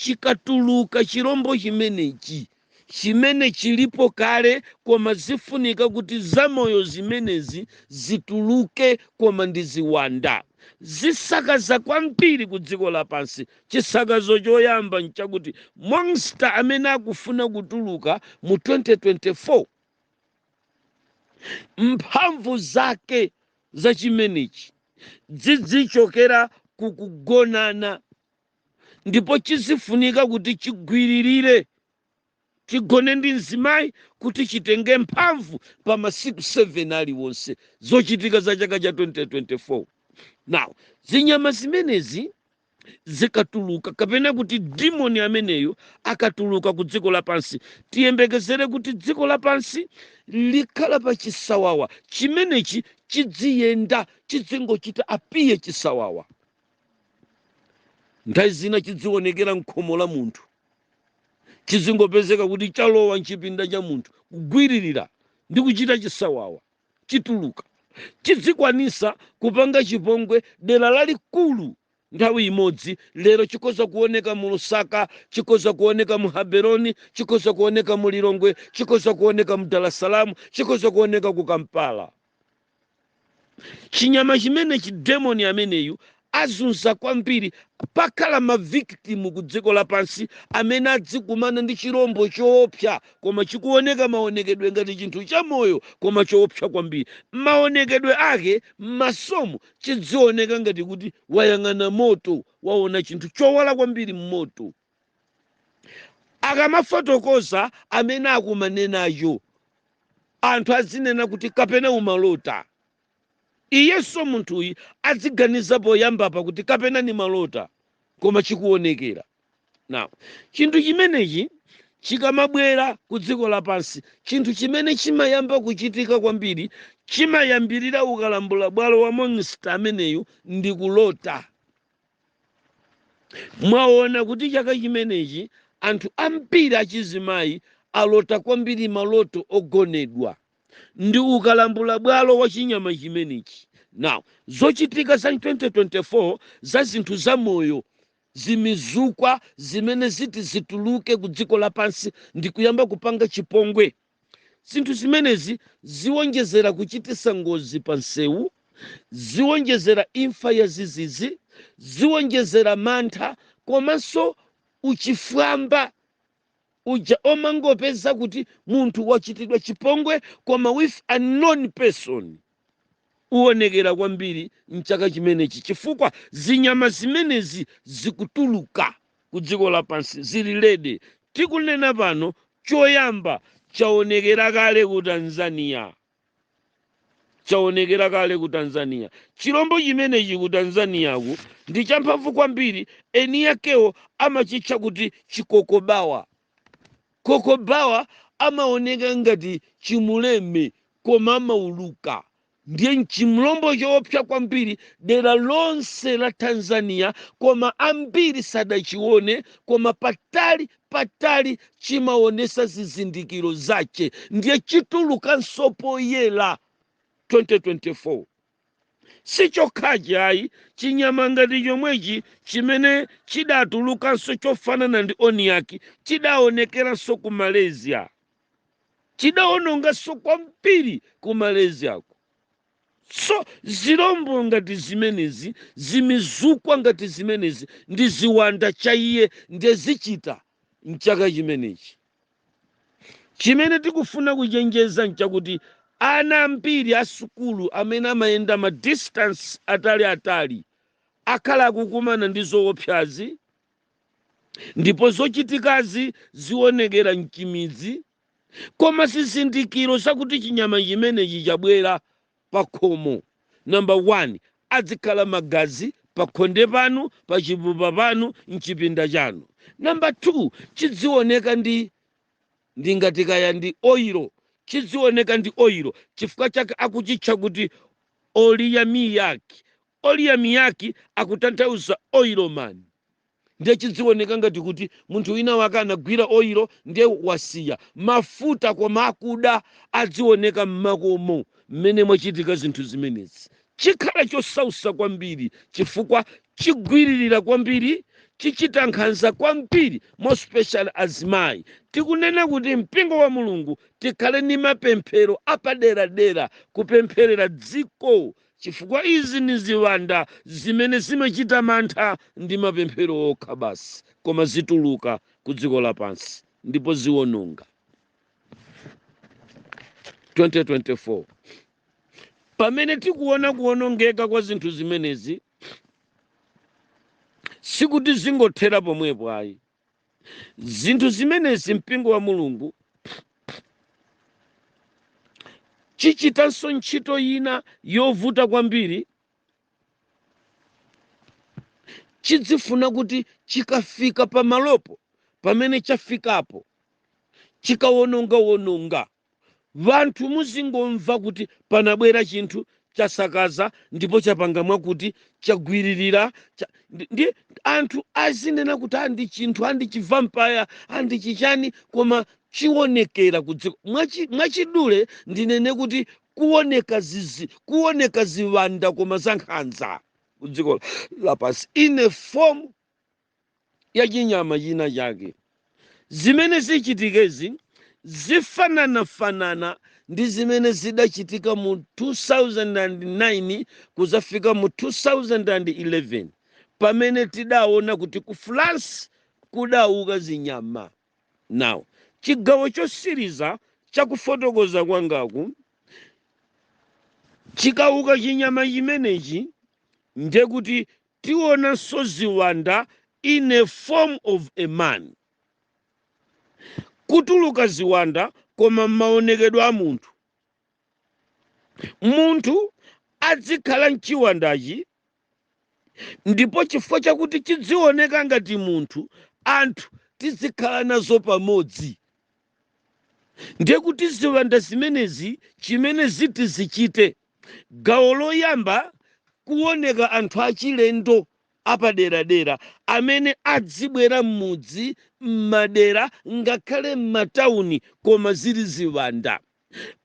Speaker 1: Chikatuluka chirombo chimenechi, chimene chilipo kale koma zifunika kuti zamoyo zimenezi zituluke koma ndi ziwanda. Zisakaza kwambiri ku dziko lapansi. Chisakazo choyamba nchakuti monster amene akufuna kutuluka mu 2024 mphamvu zake za chimenechi zidzichokera ku kugonana ndipo chizifunika kuti chigwiririre chigone ndi mzimayi kuti chitenge mphamvu pa masiku 7 aliwonse zochitika za chaka cha 2024 now zinyama zimenezi zikatuluka kapena kuti demoni ameneyo akatuluka ku dziko lapansi tiyembekezere kuti dziko lapansi likhala pa chisawawa chimenechi chidziyenda chidzingochita apiye chisawawa nthawi zina chidziwonekera mkhomo la munthu chizingopezeka kuti chalowa mchipinda cha munthu kugwiririra ndi kuchita chisawawa chituluka chidzikwanisa kupanga chipongwe dera lalikulu nthawi imodzi lero chikhoza kuoneka mu lusaka chikhoza kuoneka mu haberoni chikhoza kuoneka mu lilongwe chikhoza kuoneka mu dalasalamu chikhoza kuoneka ku kampala chinyama chimenechi demoni ameneyu azunza kwambiri pakhala mavikitimu ku dziko lapansi amene adzikumana ndi chirombo choopsa koma chikuoneka maonekedwe ngati chinthu chamoyo koma choopsa kwambiri maonekedwe ake m'masomo chidzioneka ngati kuti wayang'ana moto waona chinthu chowala kwambiri m'moto akamafotokoza amene akumana nacho anthu azinena kuti kapena umalota iyenso munthuyi adziganiza poyamba pa kuti kapena ni malota koma chikuonekera now chinthu chimenechi chikamabwera ku dziko lapansi chinthu chimene chimayamba kuchitika kwambiri chimayambirira ndi kalambula bwalo wa monster ameneyu ndi kulota mwaona kuti chaka chimenechi anthu ambiri achizimayi alota kwambiri maloto ogonedwa ndi kalambula bwalo wa chinyama chimenechi now zochitika za 2024 za zinthu za moyo zimizukwa zimene ziti zituluke ku dziko lapansi ndi kuyamba kupanga chipongwe Zinthu zimenezi ziwonjezera kuchititsa ngozi pamsewu, ziwonjezera imfa yadzidzidzi, ziwonjezera mantha komanso uchifwamba uja omangopeza kuti munthu wachitidwa chipongwe koma with unknown person. uonekera kwambiri m'chaka chimenechi chifukwa zinyama zimenezi zikutuluka ku dziko lapansi zili ready. Tikunena pano, choyamba chaonekera kale ku Tanzania. Chaonekera kale ku Tanzania. Chilombo chimenechi ku Tanzaniaku ndi champhamvu kwambiri, eni akewo amachitcha kuti chikokobawa. Kokobawa amaoneka ngati chimuleme koma amauluka ndiye n'chilombo choopsa kwambiri dera lonse la Tanzania koma ambiri sadachione koma patali patali chimaonesa zizindikiro zache ndiye chitulukanso poyera 2024. sichokhachi ayi chinyama ngati chomwechi chimene chidatulukanso chofanana ndi oniyaki chidaonekeranso ku malaysia chidaononganso kwambiri ku malaysiako so zilombo ngati zimenezi zimizukwa ngati zimenezi ndi ziwanda chabe ndezichita mchaka chimenechi chimene tikufuna kuchenjeza nchakuti ana ambiri a sukulu amene amayenda ma distance atali atali akhala akukumana ndi zoopsazi ndipo zochitikazi zionekera mchimidzi koma zizindikiro zakuti chinyama chimenechi chabwera pakhomo number 1 adzikhala magazi pakhonde panu pachipupa panu mchipinda chanu number 2 chidzioneka ndi ndingati kaya ndi oilo chidzioneka ndi oilo chifukwa chake akuchitcha kuti oliyamiyaki Oliyamiyaki akutanthauza Oil Man. Ndiye chidziwoneka ngati kuti munthu wina wake anagwira oil ndiye wasiya. Mafuta koma akuda adziwoneka m'makomo m'mene mwachitika zinthu zimenezi. Chikhala chosausa kwambiri chifukwa chigwiririra kwambiri, chichita nkhanza kwambiri more specially azimayi. Tikunena kuti mpingo wa Mulungu tikhale ni mapemphero apaderadera kupempherera dziko Chifukwa izi ni ziwanda zimene zimachita mantha ndi mapemphero okha basi, koma zituluka ku dziko lapansi ndipo ziwononga. 2024 Pamene tikuona kuwonongeka kwa zinthu zimenezi, sikuti zingothera pomwepo ayi. zinthu zimenezi mpingo wa mulungu chichitanso ntchito ina yovuta kwambiri chidzifuna kuti chikafika pamalopo pamene chafikapo chikawonongawononga Wanthu muzingomva kuti panabwera chinthu chasakaza ndipo chapanga mwakuti chagwiririra cha, ndi, ndi anthu azinena kuti a ndi chinthu a ndi chivampaya a ndi chichani koma chionekera kudziko Mwachi- mwachidule ndinene kuti kuoneka zizi kuoneka ziwanda koma zankhanza kudziko lapansi in a form ya chinyama china chake. Zimene zichitikezi zifananafanana ndi zimene zidachitika mu 2009 kuzafika mu 2011 pamene tidaona kuti ku France kudauka zinyama. Now, chigawo chosiriza cha kufotokoza kwangaku chikauka chinyama chimenechi ndekuti tionanso ziwanda in a form of a man. Kutuluka ziwanda koma mmaonekedwe a munthu. Munthu adzikhala mchiwandachi ndipo chifukwa chakuti chidzioneka ngati munthu anthu tidzikhala nazo pamodzi. ndiye kuti ziwanda zimenezi chimene ziti zichite gawo loyamba kuoneka anthu achilendo apaderadera amene adzibwera m'mudzi m'madera ngakhale m'matauni koma zili ziwanda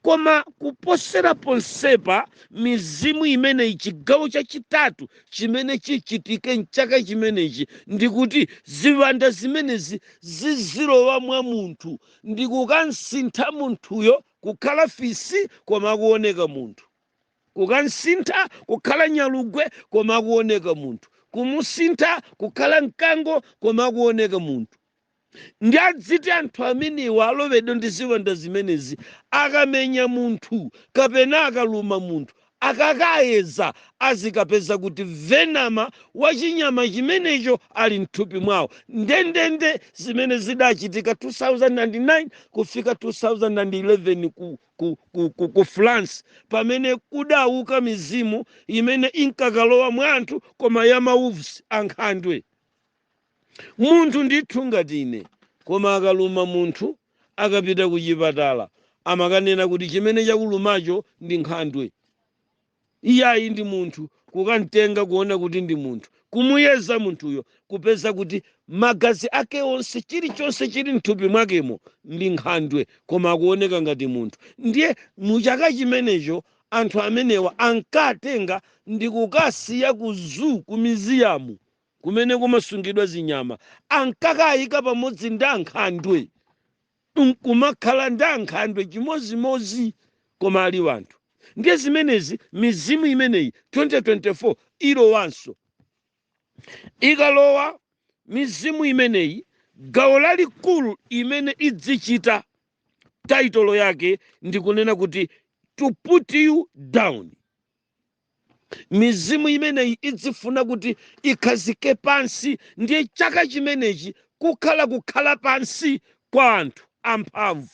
Speaker 1: koma kuposera ponsepa mizimu imeneyi chigawo chachitatu chimene chichitike mchaka chimenechi ndikuti ziwanda zimenezi zizilowa mwa munthu ndikukamsintha munthuyo kukhala fisi koma akuoneka munthu kukamsintha kukhala nyalugwe koma akuoneka munthu kumusintha kukhala mkango koma akuoneka munthu ndi adziti anthu amenewa alowedwa ndi ziwanda zimenezi akamenya munthu kapena akaluma munthu akakayeza azikapeza kuti venom wa chinyama chimenecho ali mthupi mwawo ndendende zimene zidachitika 2009 kufika 2011 ku, ku, ku, ku, ku france pamene kudauka mizimu imene inkakalowa mwa anthu koma ya ma wolves ankhandwe munthu ndithu ngati ine koma akaluma munthu akapita kuchipatala amakanena kuti chimene chakulumacho ndi nkhandwe iyayi ndi munthu kukamtenga kuona kuti ndi munthu kumuyeza munthuyo kupeza kuti magazi ake onse chilichonse chili mthupi mwakemo ndi nkhandwe koma akuoneka ngati munthu ndiye muchaka chimenecho anthu amenewa ankatenga ndi kukasiya ku zoo ku museum kumene kumasungidwa zinyama, ankakaika pamodzi ndi ankhandwe nkumakhala ndi ankhandwe chimodzimodzi koma ali anthu ndiye zimenezi mizimu imeneyi 2024 ilowanso ikalowa mizimu imeneyi gawo lalikulu imene idzichita title yake ndikunena kuti to put you down mizimu imeneyi idzifuna kuti ikhazike pansi ndiye chaka chimenechi kukhala kukhala pansi kwa anthu amphamvu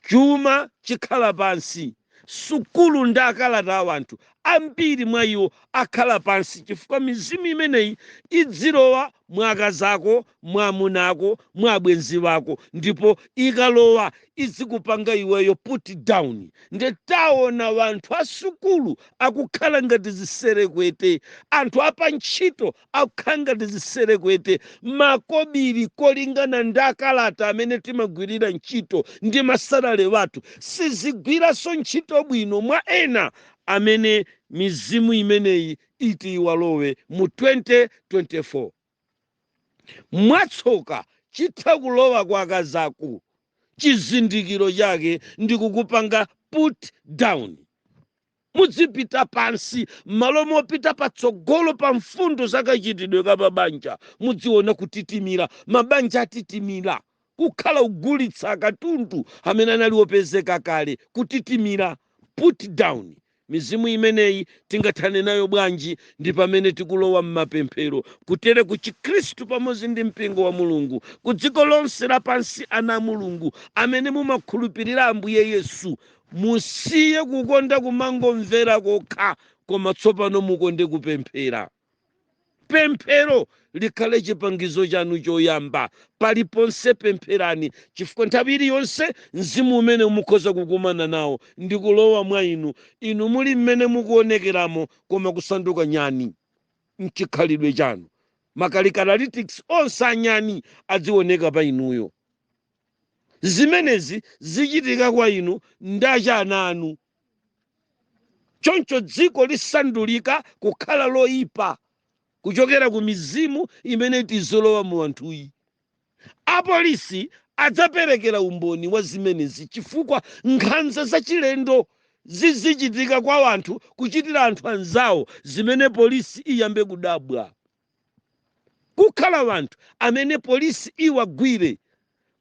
Speaker 1: chuma chikhala pansi sukulu ndi akalata a wanthu ambiri mwa iwo akhala pansi chifukwa mizimu imeneyi idzilowa mwa akazi ako mwa amuna ako mwa abwenzi ako ndipo ikalowa izikupanga iweyo put down nde tiona wanthu asukulu akukhala ngati ziserekwete anthu apantchito akukhala ngati ziserekwete makobiri kolingana ndi akalata amene timagwirira ntchito ndi masalale athu sizigwiranso ntchito bwino mwa ena amene mizimu imeneyi iti iwalowe mu 2024 Mwatsoka, chitha kulowa kwa akazi ako chizindikiro chake ndi kukupanga put down. Mudzipita pansi mmalo mopita patsogolo pa mfundo za kachitidwe ka mabanja. Mudziona kutitimira. Mabanja atitimira. kukhala kugulitsa katundu amene anali opezeka kale, kutitimira, put down, mizimu imeneyi tingathane nayo bwanji ndi pamene tikulowa mmapemphero kutereku chikhristu pamodzi ndi mpingo wa Mulungu ku dziko lonse lapansi ana a Mulungu amene mumakhulupirira Ambuye Yesu musiye kukonda kumangomvera kokha koma tsopano mukonde kupemphera Pemphero likhale chipangizo chanu choyamba. Paliponse pempherani, chifukwa nthawi iliyonse mzimu umenewu mukhoza kukumana nawo ndi kulowa mwa inu, inu muli mmene mukuonekeramo koma kusanduka nyani m'chikhalidwe chanu. Ma characteristics onse a nyani adzioneka pa inuyo. Zimenezi zichitika kwa inu ndi kwa ana anu. choncho dziko lisandulika kukhala loyipa kuchokera ku mizimu imene iti idzilowa mu anthuyi apolisi adzaperekera umboni wa zimenezi chifukwa nkhanza zachilendo zizichitika kwa anthu kuchitira anthu anzawo zimene polisi iyambe kudabwa Kukhala wanthu amene polisi iwagwire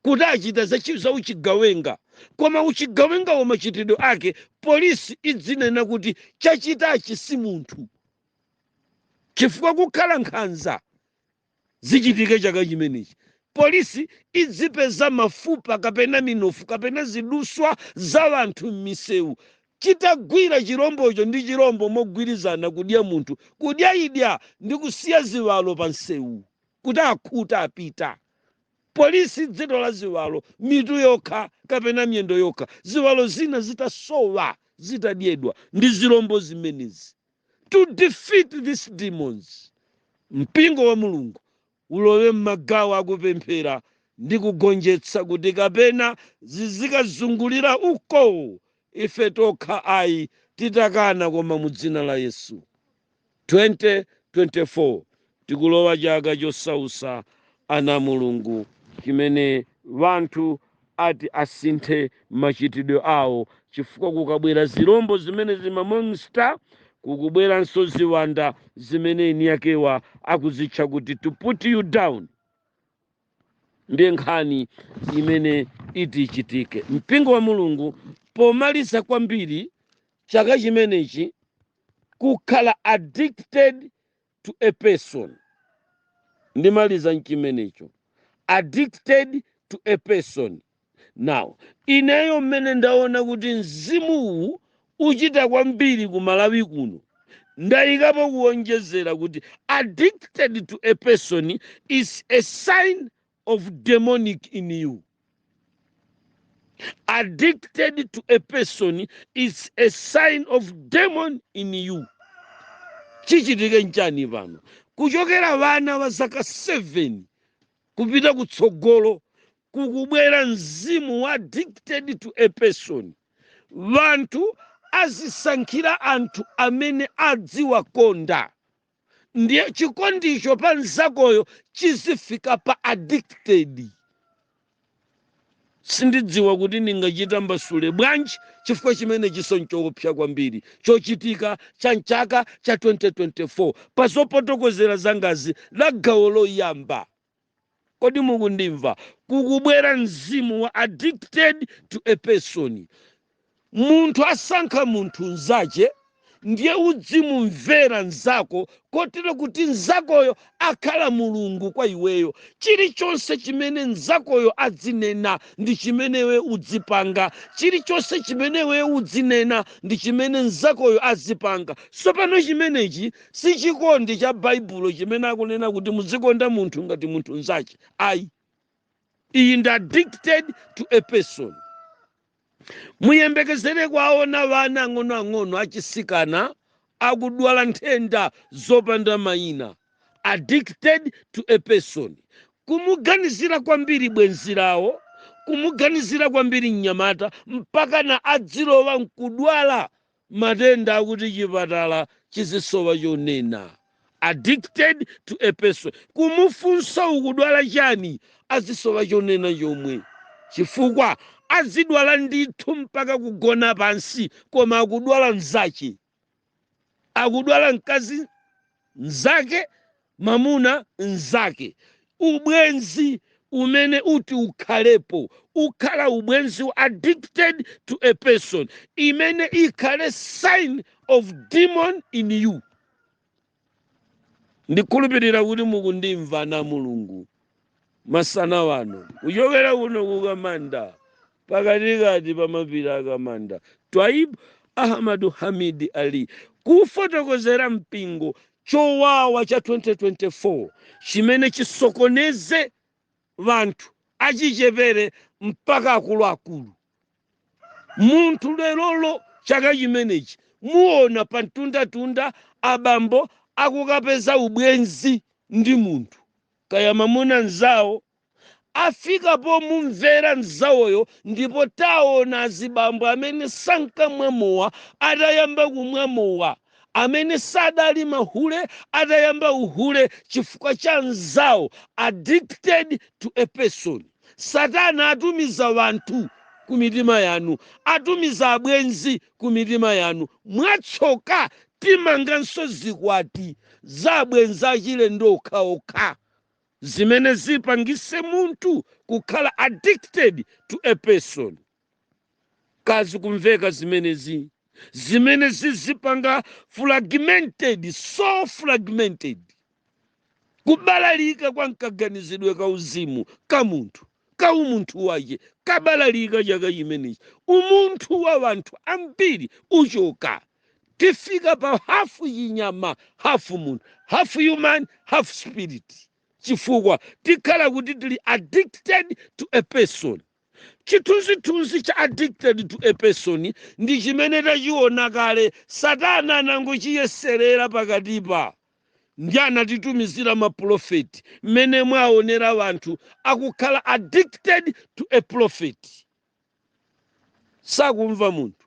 Speaker 1: kuti achita za chi za uchigawenga koma uchigawengawo machitidwe ake polisi idzinena kuti chachitachi si munthu chifukwa kukhala nkhanza zichitike chaka chimenechi polisi idzipeza mafupa kapena minofu kapena ziduswa za wanthu m'misewu chitagwira chirombocho ndi chirombo mogwirizana kudya munthu, kudya idya ndi kusiya ziwalo pa msewu kuti akhuta apita. Polisi idzitola ziwalo mitu yokha kapena miyendo yokha ziwalo zina zitasowa zitadyedwa ndi zirombo zimenezi. To defeat this demons, Mpingo wa Mulungu ulowe mmagawo akupemphera ndi kugonjetsa, kuti kapena zizikazungulira uko, ife tokha ayi, titakana, koma mu Dzina la Yesu. 2024 tikulowa chaka chosausa ana a Mulungu chimene wanthu ati asinthe machitidwe awo chifukwa kukabwera zilombo zimene zimamonster kukubweranso ziwanda zimene eni akewa akuzitcha kuti to put you down ndiye nkhani imene iti ichitike mpingo wa mulungu pomaliza kwambiri chaka chimenechi kukhala addicted to a person ndimaliza nchimenecho addicted to a person now ineyo mmene ndaona kuti mzimuwu uchita kwambiri ku malawi kuno ndayikapo kuonjezera kuti addicted to a person is a sign of demonic in you. Addicted to a person is a sign of demon in you. Chichitike nchani pano kuchokera wana wa zaka 7 kupita kutsogolo kukubwera mzimu wa addicted to a person wanthu azisankhira anthu amene adziwakonda ndiye chikondicho pa mzakoyo chizifika pa addicted sindidziwa kuti ndingachitambasule bwanji chifukwa chimenechinso nchoopsa kwambiri chochitika cha mchaka cha 2024 pa zofotokozera zangazi la gawo loyamba kodi mukundimva kukubwera mzimu wa addicted to a person munthu asankha munthu nzache ndiye udzimumvera nzako kotero kuti nzakoyo akhala mulungu kwa iweyo chilichonse chimene nzakoyo adzinena ndi chimene iwe udzipanga chilichonse chimene iwe udzinena ndi chimene nzakoyo azipanga tsopano chimenechi Si chikondi cha Baibulo chimene akunena kuti muzikonda munthu ngati munthu mnzache. Ayi. Iyi ndi addicted to a person. Muyembekezere kwaona vana ang'onoang'ono achisikana akudwala nthenda zopanda maina. Addicted to a person. Kumuganizira kwambiri bwenzi lao, kumuganizira kwambiri mnyamata mpakana adzilowa nkudwala matenda akuti chipatala chizisowa chonena. addicted to a person kumufunsa ukudwala chani azisowa chonena chomwe chifukwa azidwala ndithu mpaka kugona pansi koma akudwala mzache akudwala mkazi mzake mwamuna mzake. Ubwenzi umene uti ukhalepo ukhala ubwenzi addicted to a person imene ikhale sign of demon in you. Ndikhulupirira kuti mukundimva na Mulungu. masana wano kuchokera kuno ku kamanda pakatikati pa mapiri a kamanda twaibu ahmadu hamidi ali kufotokozera mpingo chowawa cha 2024 chimene chisokoneze vanthu achichepere mpaka akuluakulu munthu lerolo chaka chimenechi muona pa mtundatunda abambo akukapeza ubwenzi ndi munthu kaya mamuna nzawo afikapo mumvera nzawoyo ndipo taona azibambo amene sankamwa mowa atayamba kumwa mowa amene sadali mahule atayamba uhule chifukwa cha nzawo addicted to a person satana atumiza wanthu ku mitima yanu atumiza abwenzi ku mitima yanu. Mwatsoka, timanganso zikwati za abwenzi achilendo okhaokha, zimene zipangise munthu kukhala addicted to a person. Ka zikumveka zimenezi? Zimene zizipanga fragmented, soul fragmented. kubalalika kwa mkaganizidwe ka uzimu ka munthu ka umunthu wache kabalalika chaka chimenechi umunthu wa wanthu ambiri uchoka tifika pa hafu chinyama hafu munthu hafu human hafu spirit chifukwa tikhala kuti tili addicted to a person chithunzithunzi cha addicted to a person ndi chimene tachiona kale satana anangochiyeserera pakatipa ndi anatitumizira mapulofeti mmene mwaonera wanthu akukhala addicted to a prophet sakumva munthu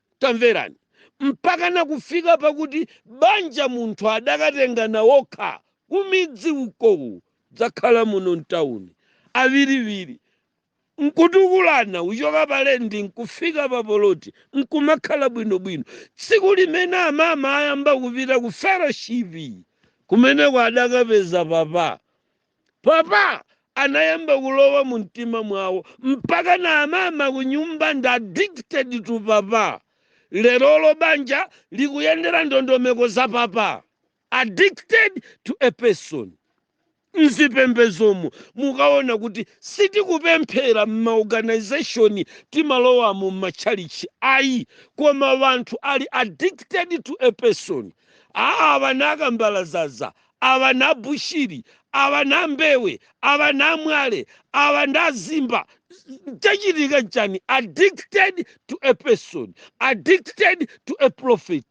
Speaker 1: Tamverani! Mpakana kufika pakuti banja munthu adakatengana wokha kumidzi uko kudzakhala muno mtauni, awiriwiri, nkutukulana kuchoka pa lendi nkufika pa poloti nkumakhala bwinobwino. Tsiku limene amama ayamba kupita ku fellowship, kumeneku adakapeza papa. Papa anayamba kulowa mu mtima mwawo mpaka na amama kunyumba ndi addicted to papa. Lerolo banja likuyendera ndondomeko za papa. Addicted to a person. M'zipembedzomu mukaona kuti sitikupemphera m'ma organization timalowamo m'matchalitchi ayi koma wanthu ali addicted to a person. Awa na Kambalazaza awa na bushiri awa na mbewe awa na mwale awa na zimba chachitika nchani addicted to a person addicted to a prophet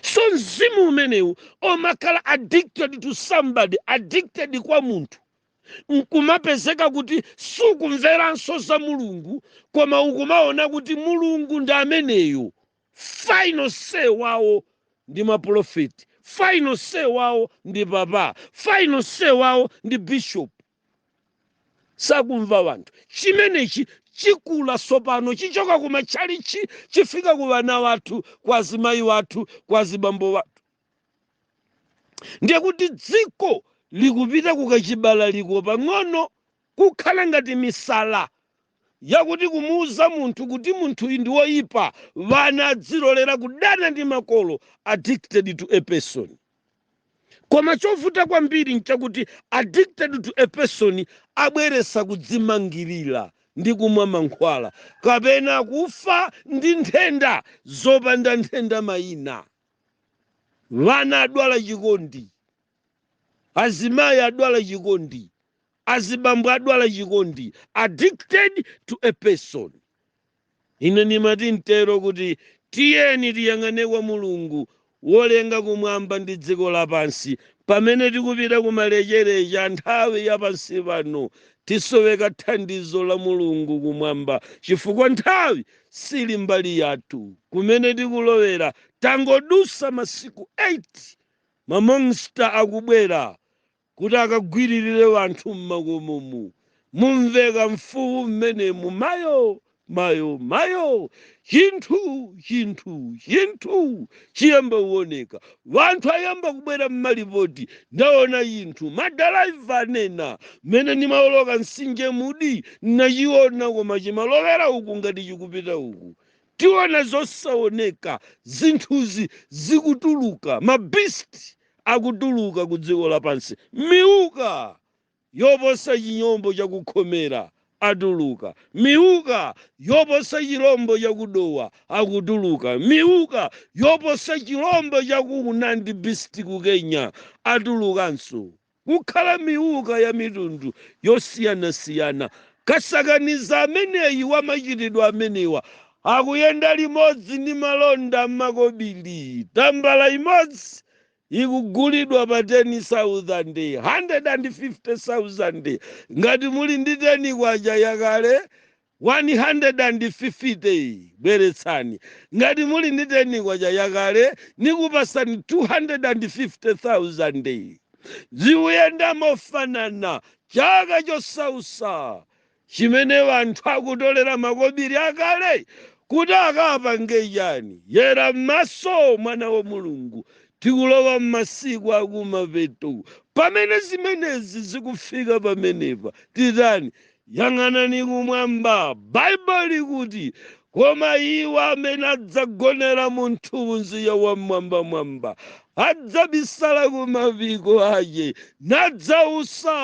Speaker 1: so mzimu umenewu omakhala addicted to somebody addicted kwa munthu nkumapezeka kuti sukumveranso za mulungu koma ukumaona kuti mulungu ndi ameneyo final say wawo ndi mapulofeti final say wawo ndi papa final say wawo ndi bishop sakumva wanthu chimenechi chikula sopano chichoka ku matchalichi chifika ku vana wathu kwa azimayi wathu kwa azibambo wathu ndiye kuti dziko likupita kukachibalaliko pang'ono kukhala ngati misala yakuti kumuuza munthu kuti munthuyi ndi woipa vana adzilolera kudana ndi makolo addicted to a person koma chovuta kwambiri nchakuti addicted to a person abweresa kudzimangirira ndi kumwa mankhwala kapena kufa ndi nthenda zopanda nthenda mayina vana adwala chikondi azimayi adwala chikondi azibambo adwala chikondi addicted to a person ine ndimati ntero kuti tiyeni tiyang'ane kwa mulungu wolenga kumwamba ndi dziko lapansi pamene tikupita kumalechereche a nthawi ya pansi pano tisoweka thandizo la mulungu kumwamba chifukwa nthawi sili mbali yathu kumene tikulowera tangodusa masiku 8 Ma monster akubwera kuti akagwiririre wanthu m'makomomu. Mumveka mfuwu m'menemu, Mayo! Mayo! Mayo! Chinthu! Chinthu! Chinthu! chiyamba kuoneka. Wanthu ayamba kubwera m'malipoti, Ndaona chinthu! Madalaiva anena, Mmene ndimaoloka mtsinje Mudi, ndinachiona koma chimalowera uku ngati chikupita uku. tiona zosaoneka zinthuzi zikutuluka ma beast akutuluka ku dziko lapansi miuka yoposa chilombo cha ku Khomera atuluka miuka yoposa chilombo cha ku Dowa akutuluka miuka yoposa chilombo cha ku Una ndi beast ku kenya atulukanso kukhala miuka ya mitundu yosiyanasiyana. Kasakaniza ameneyi wa machitidwe amenewa akuyenda limodzi ndi malonda m'makobiri. Tambala imodzi ikugulidwa pa teni sauzande, handiredi andi fifite sauzande. Ngati muli ndi teni kwacha yakale, 150 bweretsani. Ngati muli ndi K10 yakale, nikupasani K250,000. Zikuyenda mofanana chaka chosausa chimene wanthu akutolera makobiri akale kuti akapange chani? Yera m'maso, mwana wa Mulungu. Tikulowa m'masiku akumapeto. Pamene zimenezi zikufika pamenepa, titani? Yang'anani kumwamba. Baibulo likuti, Koma iwo amene adzagonera mu mthunzi ya Wam'mwambamwamba adzabisala ku mapiko ache, nadzausa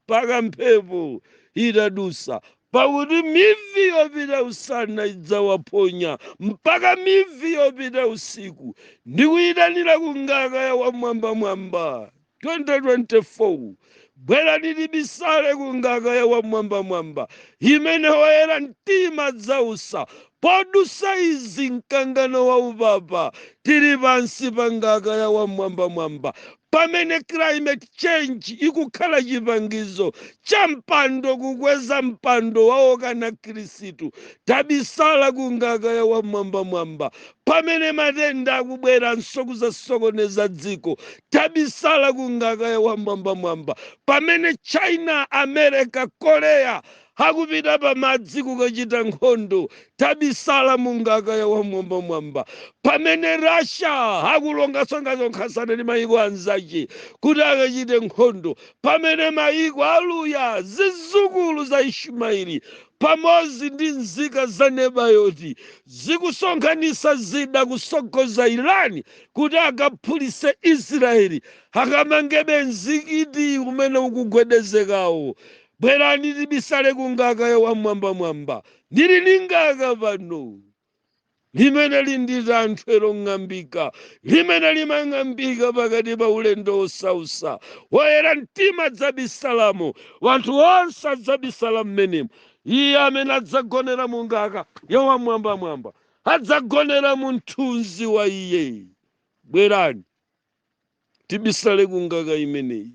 Speaker 1: mpaka mphepo itadusa, pakuti mivi yopita usana idzawaphonya, mpaka mivi yopita usiku, ndi kuyitanira ku ngaka ya Wam'mwambamwamba 2024 Bwerani tibisale ku ngaka ya Wam'mwambamwamba imene oyera mtima adzausa podusa izi mkangano wa upapa. Tili pansi pa ngaka ya Wam'mwambamwamba pamene climate change ikukhala chipangizo cha mpando kukweza mpando wa okana Khristu. Tabisala ku ngaka ya Wam'mwambamwamba Pamene matenda akubweranso kuzasokoneza dziko, tabisala ku ngaka ya Wam'mwambamwamba. Pamene China, America, Korea akupita pa madzi kukachita nkhondo, tabisala mu ngaka ya Wam'mwambamwamba. Pamene Russia akusonkhasonkhasana ndi mayiko anzache kuti akachite nkhondo, pamene mayiko Aluya, zizukulu za Ishimaeli, pamozi ndi nzika za Nebayoti, Zikusonkhanisa zida kusogoza Iran kuti akaphulise Israel akamangebe mzikiti umene ukugwedezekawo. Bwerani tibisale ku ngaka ya wam'mwambamwamba. Ndili ndi ngaka pano limene lili tanthwe long'ambika limene limang'ambika pakati pa ulendo wosausa. Woyera mtima adzabisalamo. Wanthu onse adzabisala m'menemo. Iye amene adzagonera mu ngaka ya Wamwambamwamba adzagonera mu mthunzi wa Iye. Bwerani, tibisale ku ngaka imeneyi.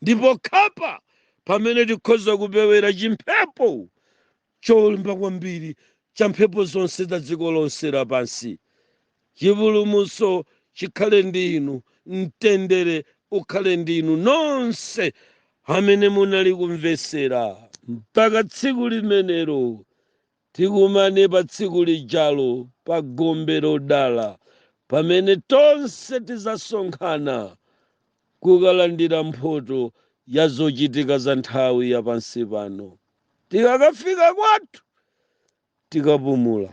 Speaker 1: Ndipo apa pamene tikhoza kupewera chimphepo cholimba kwambiri cha mphepo zonse za dziko lonse lapansi. Chipulumutso chikhale ndi inu, mtendere ukhale ndi inu nonse amene munali kumvetsera. Mpaka tsiku limenelo, tikumane pa tsiku lijalo pa gombe lodala pamene tonse tidzasonkhana kukalandira mphoto ya zochitika za nthawi ya pansi pano. Tikakafika kwathu tikapumula.